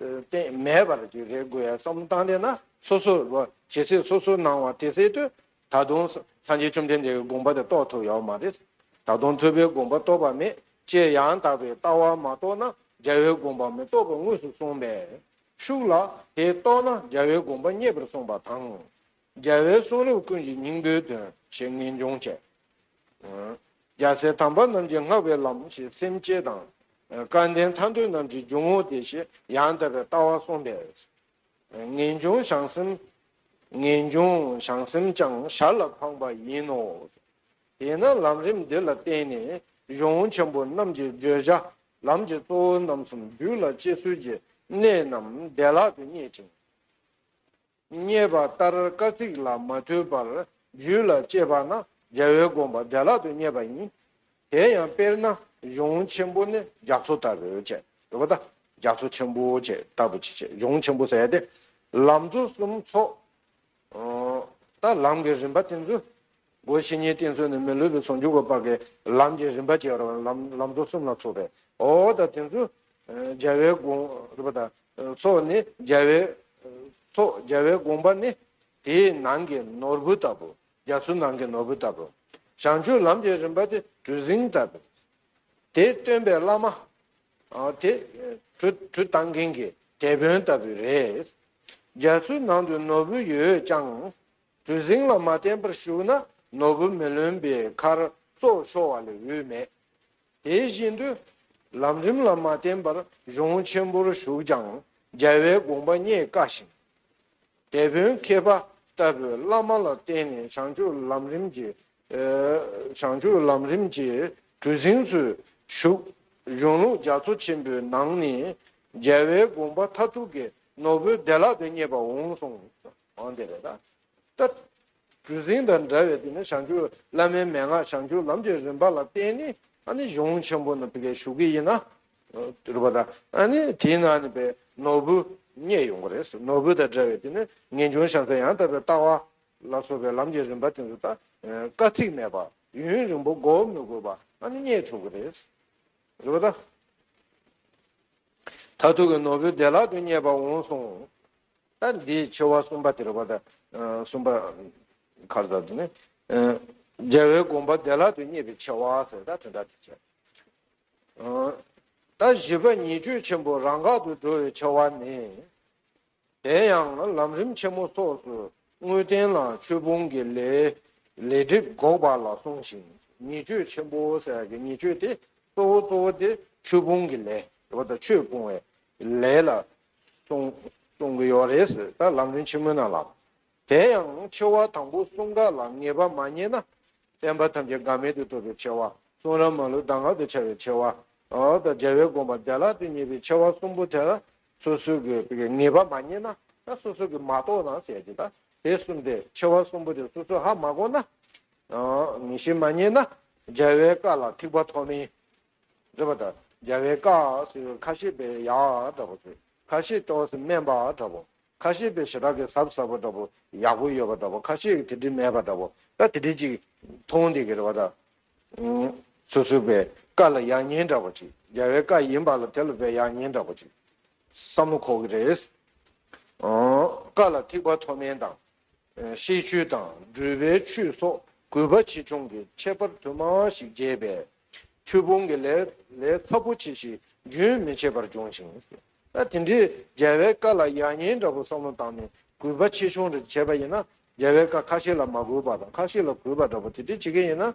སྟེང་མེད་པར་ཇི་སྲིད་དགོས་ཡ་བསམ་བློ་བཏང་དེ་ན་སོ་སོ་རུ་ཇི་སྲིད་སོ་སོ་སྣང་བ་དེ་སྲིད་དུ་ད་དུང་སངས་རྒྱས་བཅོམ་ལྡན་འདས་ཀྱི་དགོངས་པ་དེ་རྟོགས་ཐུབ་ཡོད་མ་རེད། ད་དུང་ཐོས་པའི་དགོངས་པ་རྟོགས་པ་མེད་ཅེས་ཡང་དག་པའི་ལྟ་བ་མ་རྟོགས་ན་རྒྱལ་བའི་དགོངས་པའང་མི་རྟོགས་པ་དངོས་སུ་གསུངས་པས། ཤུགས་ལ་དེ་རྟོགས་ན་རྒྱལ་བའི་དགོངས་པ་རྙེད་པར་གསུངས་པ་དང། རྒྱལ་བའི་གསུང་རབ་ཀུན་གྱི་སྙིང་པོའི་དོན་ཞེས་ངེས་འབྱུང་བྱས། རྒྱལ་སྲས་དམ་པ་རྣམས་ཀྱི་བསྔགས་པའི་ལམ་ཞེས་སེམས་བསྐྱེད་དང། སྐལ་ལྡན་ཐར་འདོད་རྣམས་ཀྱི་འཇུག་ངོགས་ཏེ་ཞེས་ཡང་དག་པའི་ལྟ་བ་གསུངས་པས། ངེས་འབྱུང་བྱང་སེམས། ངེས་འབྱུང་བྱང་སེམས་ཀྱང་ཞར་ལ་འཕངས་པ་ཡིན་ནོ། དེས་ན་ལམ་རིམ་འདི་ལ་བརྟེན་ནས་གཞུང་ཆེན་པོ་རྣམས་ཀྱི་བརྗོད་བྱ་ལམ་གྱི་གཙོ་བོ་རྣམ་གསུམ་རྒྱུད་ལ་སྐྱེ་ཚུལ་གྱི་གནད་རྣམས་བདེ་བླག་ཏུ་བརྙེས་ཅིང། བསྙད་པ་ལྟར་བཀའ་གཙིགས་ལ་མ་ཐོས་པར་རྒྱུད་ལ་སྤྱད་པ་ན་རྒྱལ་བའི་དགོངས་པ་བདེ་བླག་ཏུ་བསྙད་པ་ཡིན། དེ་ཡང་དཔེར་ན་གཞུང་ཆེན་པོ་ནི་རྒྱ་མཚོ་ལྟ་བུ་ཅེས་བསྒྲུབ་པ་དང་རྒྱ་མཚོ་ཆེན་པོ་ཅེས་ལྟ་བུ་ཅི་བྱེད་གཞུང་ཆེན་པོ་ཟད་དེ། ལམ་གཙོ་གསུམ་ཚོགས། ལམ་གྱི་རིམ་པ་དེ་ཚོ། སྒོ་བཞི་གཉིས་བསྟན་ཚུལ་ནི་མི་ལུས་པའི་ཚོགས་འཇུག་པ་པཀྵི་ལམ་གྱི་རིམ་པ་བཅས་རོ། ལམ་རྫོགས་གསུམ་ལ་ཚོགས་པའི་འོག་དང་དེ་ཚོ་རྒྱལ་བའི་དགོངས། ཚོགས་ནི་རྒྱལ་བའི། ཚོགས་རྒྱལ་བའི་དགོངས་པ་ནི། དེའི་ནང་གི་ནོར་བུ་ལྟ་བུ། རྒྱ་མཚོའི་ནང་གི་ནོར་བུ་ལྟ་བུ། བྱང་ཆུབ་ལམ་གྱི་རིམ་པ་དེ་གྲུ་གཟིངས་ལྟ་བུ། དེ་སྟོན་པའི་བླ་མ། དེ། གྲུ་བཏང་མཁན་གྱི་དེད་དཔོན་ལྟ་བུ་རེད། རྒྱ་མཚོའི་ནང་དུ་ནོར་བུ་ཡོད་ཀྱང། གྲུ་གཟིངས་ལ་མ་བརྟེན་པར་བཞུགས་ན་ནོར་བུ་མི་ལོན་པའི་ཁར་སྲོག་ཤོར་བ་ལས་འོས་མེད། དེ་བཞིན་དུ། ལམ་རིམ་ལ་མ་བརྟེན་པར་གཞུང་ཆེན་པོར་བཞུགས་ཀྱང་རྒྱལ་བའི་དགོངས་པ་རྙེད་དཀའ་ཞིང། དེད་དཔོན་མཁས་པ་ལྟ་བུའི་བླ་མ་ལ་བརྟེན་ནས་བྱང་ཆུབ་ལམ་རིམ་གྱི། བྱང་ཆུབ་ལམ་རིམ་གྱི་གྲུ་གཟིངས་སུ་བཞུགས། གཞུང་ལུགས་རྒྱ་མཚོ་ཆེན་པོའི་ནང་ནས་རྒྱལ་བའི་དགོངས་པ་མཐའ་ཐུག་གི་ནོར་བུ་བདེ་བླག་ཏུ་རྙེད་པ་འོང་གསུངས། འོང་བསྡད་པས་ན། ཏདྱ། གྲུ་གཟིངས་དང་འདྲ་བའི་དེ་ནི་བྱང་ཆུབ་བླ་མའི་མན་ངག་བྱང་ཆུབ་ལམ་གྱི་རིམ་པ་ལ་བརྟེན་ནས་ཨ་ནི་གཞུང་ཆེན་པོ་ནི་བི་ཀའི་བཞུགས་ཀྱི་ཡིན། རིག་པ་དང་ཨ་ནི་དེའི་ནང་ནས་པའི་ནོར་བུ་རྙེད་ཡོང་བ་རེད། ནོར་བུ་དང་འདྲ་བའི་དེ་ནི་ངེས་འབྱུང་བྱང་ཚད་ཡང་དག་པའི་ལྟ་བ་ལ་སོགས་པའི་ལམ་གྱི་རིམ་པ་དེ་ཚོ་དག་དཀའ་ཚེགས་མེད་པར་ཡུན་རིང་པོ་འགོག་མི་དགོས་པར་ཨ་ནི་རྙེད་ཐུབ་པ་རེད། རིག་པ་དང། མཐར་ཐུག་གི་ནོར་བུ་བདེ་བླག་ཏུ་རྙེད་པར་འོང་གསུངས། ལྟ་འདིའི་ཆེ་བ་གསུམ་པ་དེར་བ་དང། གསུམ་པ། མཁར་ཟར་དུ་ནི། རྒྱལ་བའི་དགོངས་པ་བདེ་བླག་ཏུ་རྙེད་པའི་ཆེ་བ་ཟེར་ད་དེ་འདྲ་དེ་བྱས། ལྟ་བཞི་པ་ཉིད་ཆོས་ཆེན་པོ་རང་འགག་ཏུ་འགྲོ་བའི་ཆེ་བ་ནི། དེ་ཡང་ལམ་རིམ་ཆེན་མོ་སོགས་སུ་དངོས་བསྟན་ལ་ཆོས་ཕུང་གི་ལས། ལས་སྒྲིབ་འགོག་པ་ལ་གསུངས་ཤིང་ཉིད་ཆོས་ཆེན་པོ་ཟེར་བ་གི་ཉིད་ཆོས་དེ་གཙོ་བོ་གཙོ་བོ་དེ་ཆོས་ཕུང་གི་ལས། རེ་བ་དང་ཆོས་སྤོང་བའི་ལས་ལ་གཏོང་གི་ཡོད་རེད་ཟེར་ད་ལམ་རིམ་ཆེན་མོ་ནང་ལ། དེ་ཡང་ཆེ་བ་དང་པོ་གསུང་སྐད་ལ་ངེས་པ་མ་རྙེད་ན། བསྟན་པ་ཐམས་ཅད་འགག་མེད་དུ་འཐོབ་པའི་ཆེ་བ། གསུང་རབ་མ་ལུས་གདམས་ངག་ཏུ་འཆར་བའི་ཆེ་བ། དང་རྒྱལ་བའི་དགོངས་པ་བདེ་བླག་ཏུ་རྙེད་པའི་ཆེ་བ་གསུམ་པོ་དེ་ལ་སོ་སོ་གི་ངེས་པ་མ་རྙེད་ན། ད་སོ་སོ་གི་མ་རྟོགས་ན་ཟེར་གྱི་ད་དེ་གསུམ་དེ་ཆེ་བ་གསུམ་པོ་དེ་སོ་སོ་ཧ་མ་གོ་ན། ངེས་ཤེས་མ་རྙེད་ན། རྒྱལ་བའི་བཀའ་ལ་ཐིགས་པ་ཐོགས་མེད། འདྲ་བ་དང་རྒྱལ་བའི་བཀའ། ཁ་ཤེས་པས་ཡ། འདྲ་བོ། ཁ་ཤེས་ཏོག་སེ་སྨན་པ། འདྲ་བོ། ཁ་ཤེས་པས་ཞེ་དྲག་གི་ཟབ་ཟབ་པོ། འདྲ་བོ། ཡག་པོ་ཡོད་པ། འདྲ་བོ། ཁ་ཤེས་ཀྱི་དེ་འདྲི་མེད་པ། འདྲ་བོ། ད་དེ་འདྲི་ཅིག། མཐོང་འདི་གི་རེ་བ་དང། སོ་སོའི་བའི་བཀའ་ལ་ཡག་ཉེས་འདྲ་བོ་ཅིག། རྒྱལ་བའི་བཀའ་ཡིན་པ་ལ་དེ་ལ་བའི་ཡག་ཉེས་འདྲ་བོ་ཅིག། བསམ་བློ་ཁོག་གི་རེད། བཀའ་ལ་ཐིག་པ་མཐོ་དམན་དང། ཤེས་ཆོས་དང། སྦྲུལ་པའི་ཆུ་སོགས་གུས་པ་ཆེ་ཆུང་གི་ཁྱད་པར་དུ་མ་ཞིག་འབྱེད་པས། འཁྲུལ་སྤོང་གི་ལས་ལས་ཚབས་པོ་ཆེ་ཞིག་རྒྱུན་མི་འཆད་པར་འབྱུང་ཞིང། ད་དེ་འདྲའི་རྒྱལ་བའི་བཀའ་ལ་ཡག་ཉེས་འདྲ་པོ་བསམ་བློ་བཏང་ནས་གུས་པ་ཆེ་ཆུང་རེ་བྱས་པ་ཡིན་ན། རྒྱལ་བའི་བཀའ་ཁ་ཤས་ལ་མ་གུས་པ་དང་ཁ་ཤས་ལ་གུས་པ་འདྲ་པོ་དེ་འདྲས་བྱེད་མཁན་ཡིན་ན།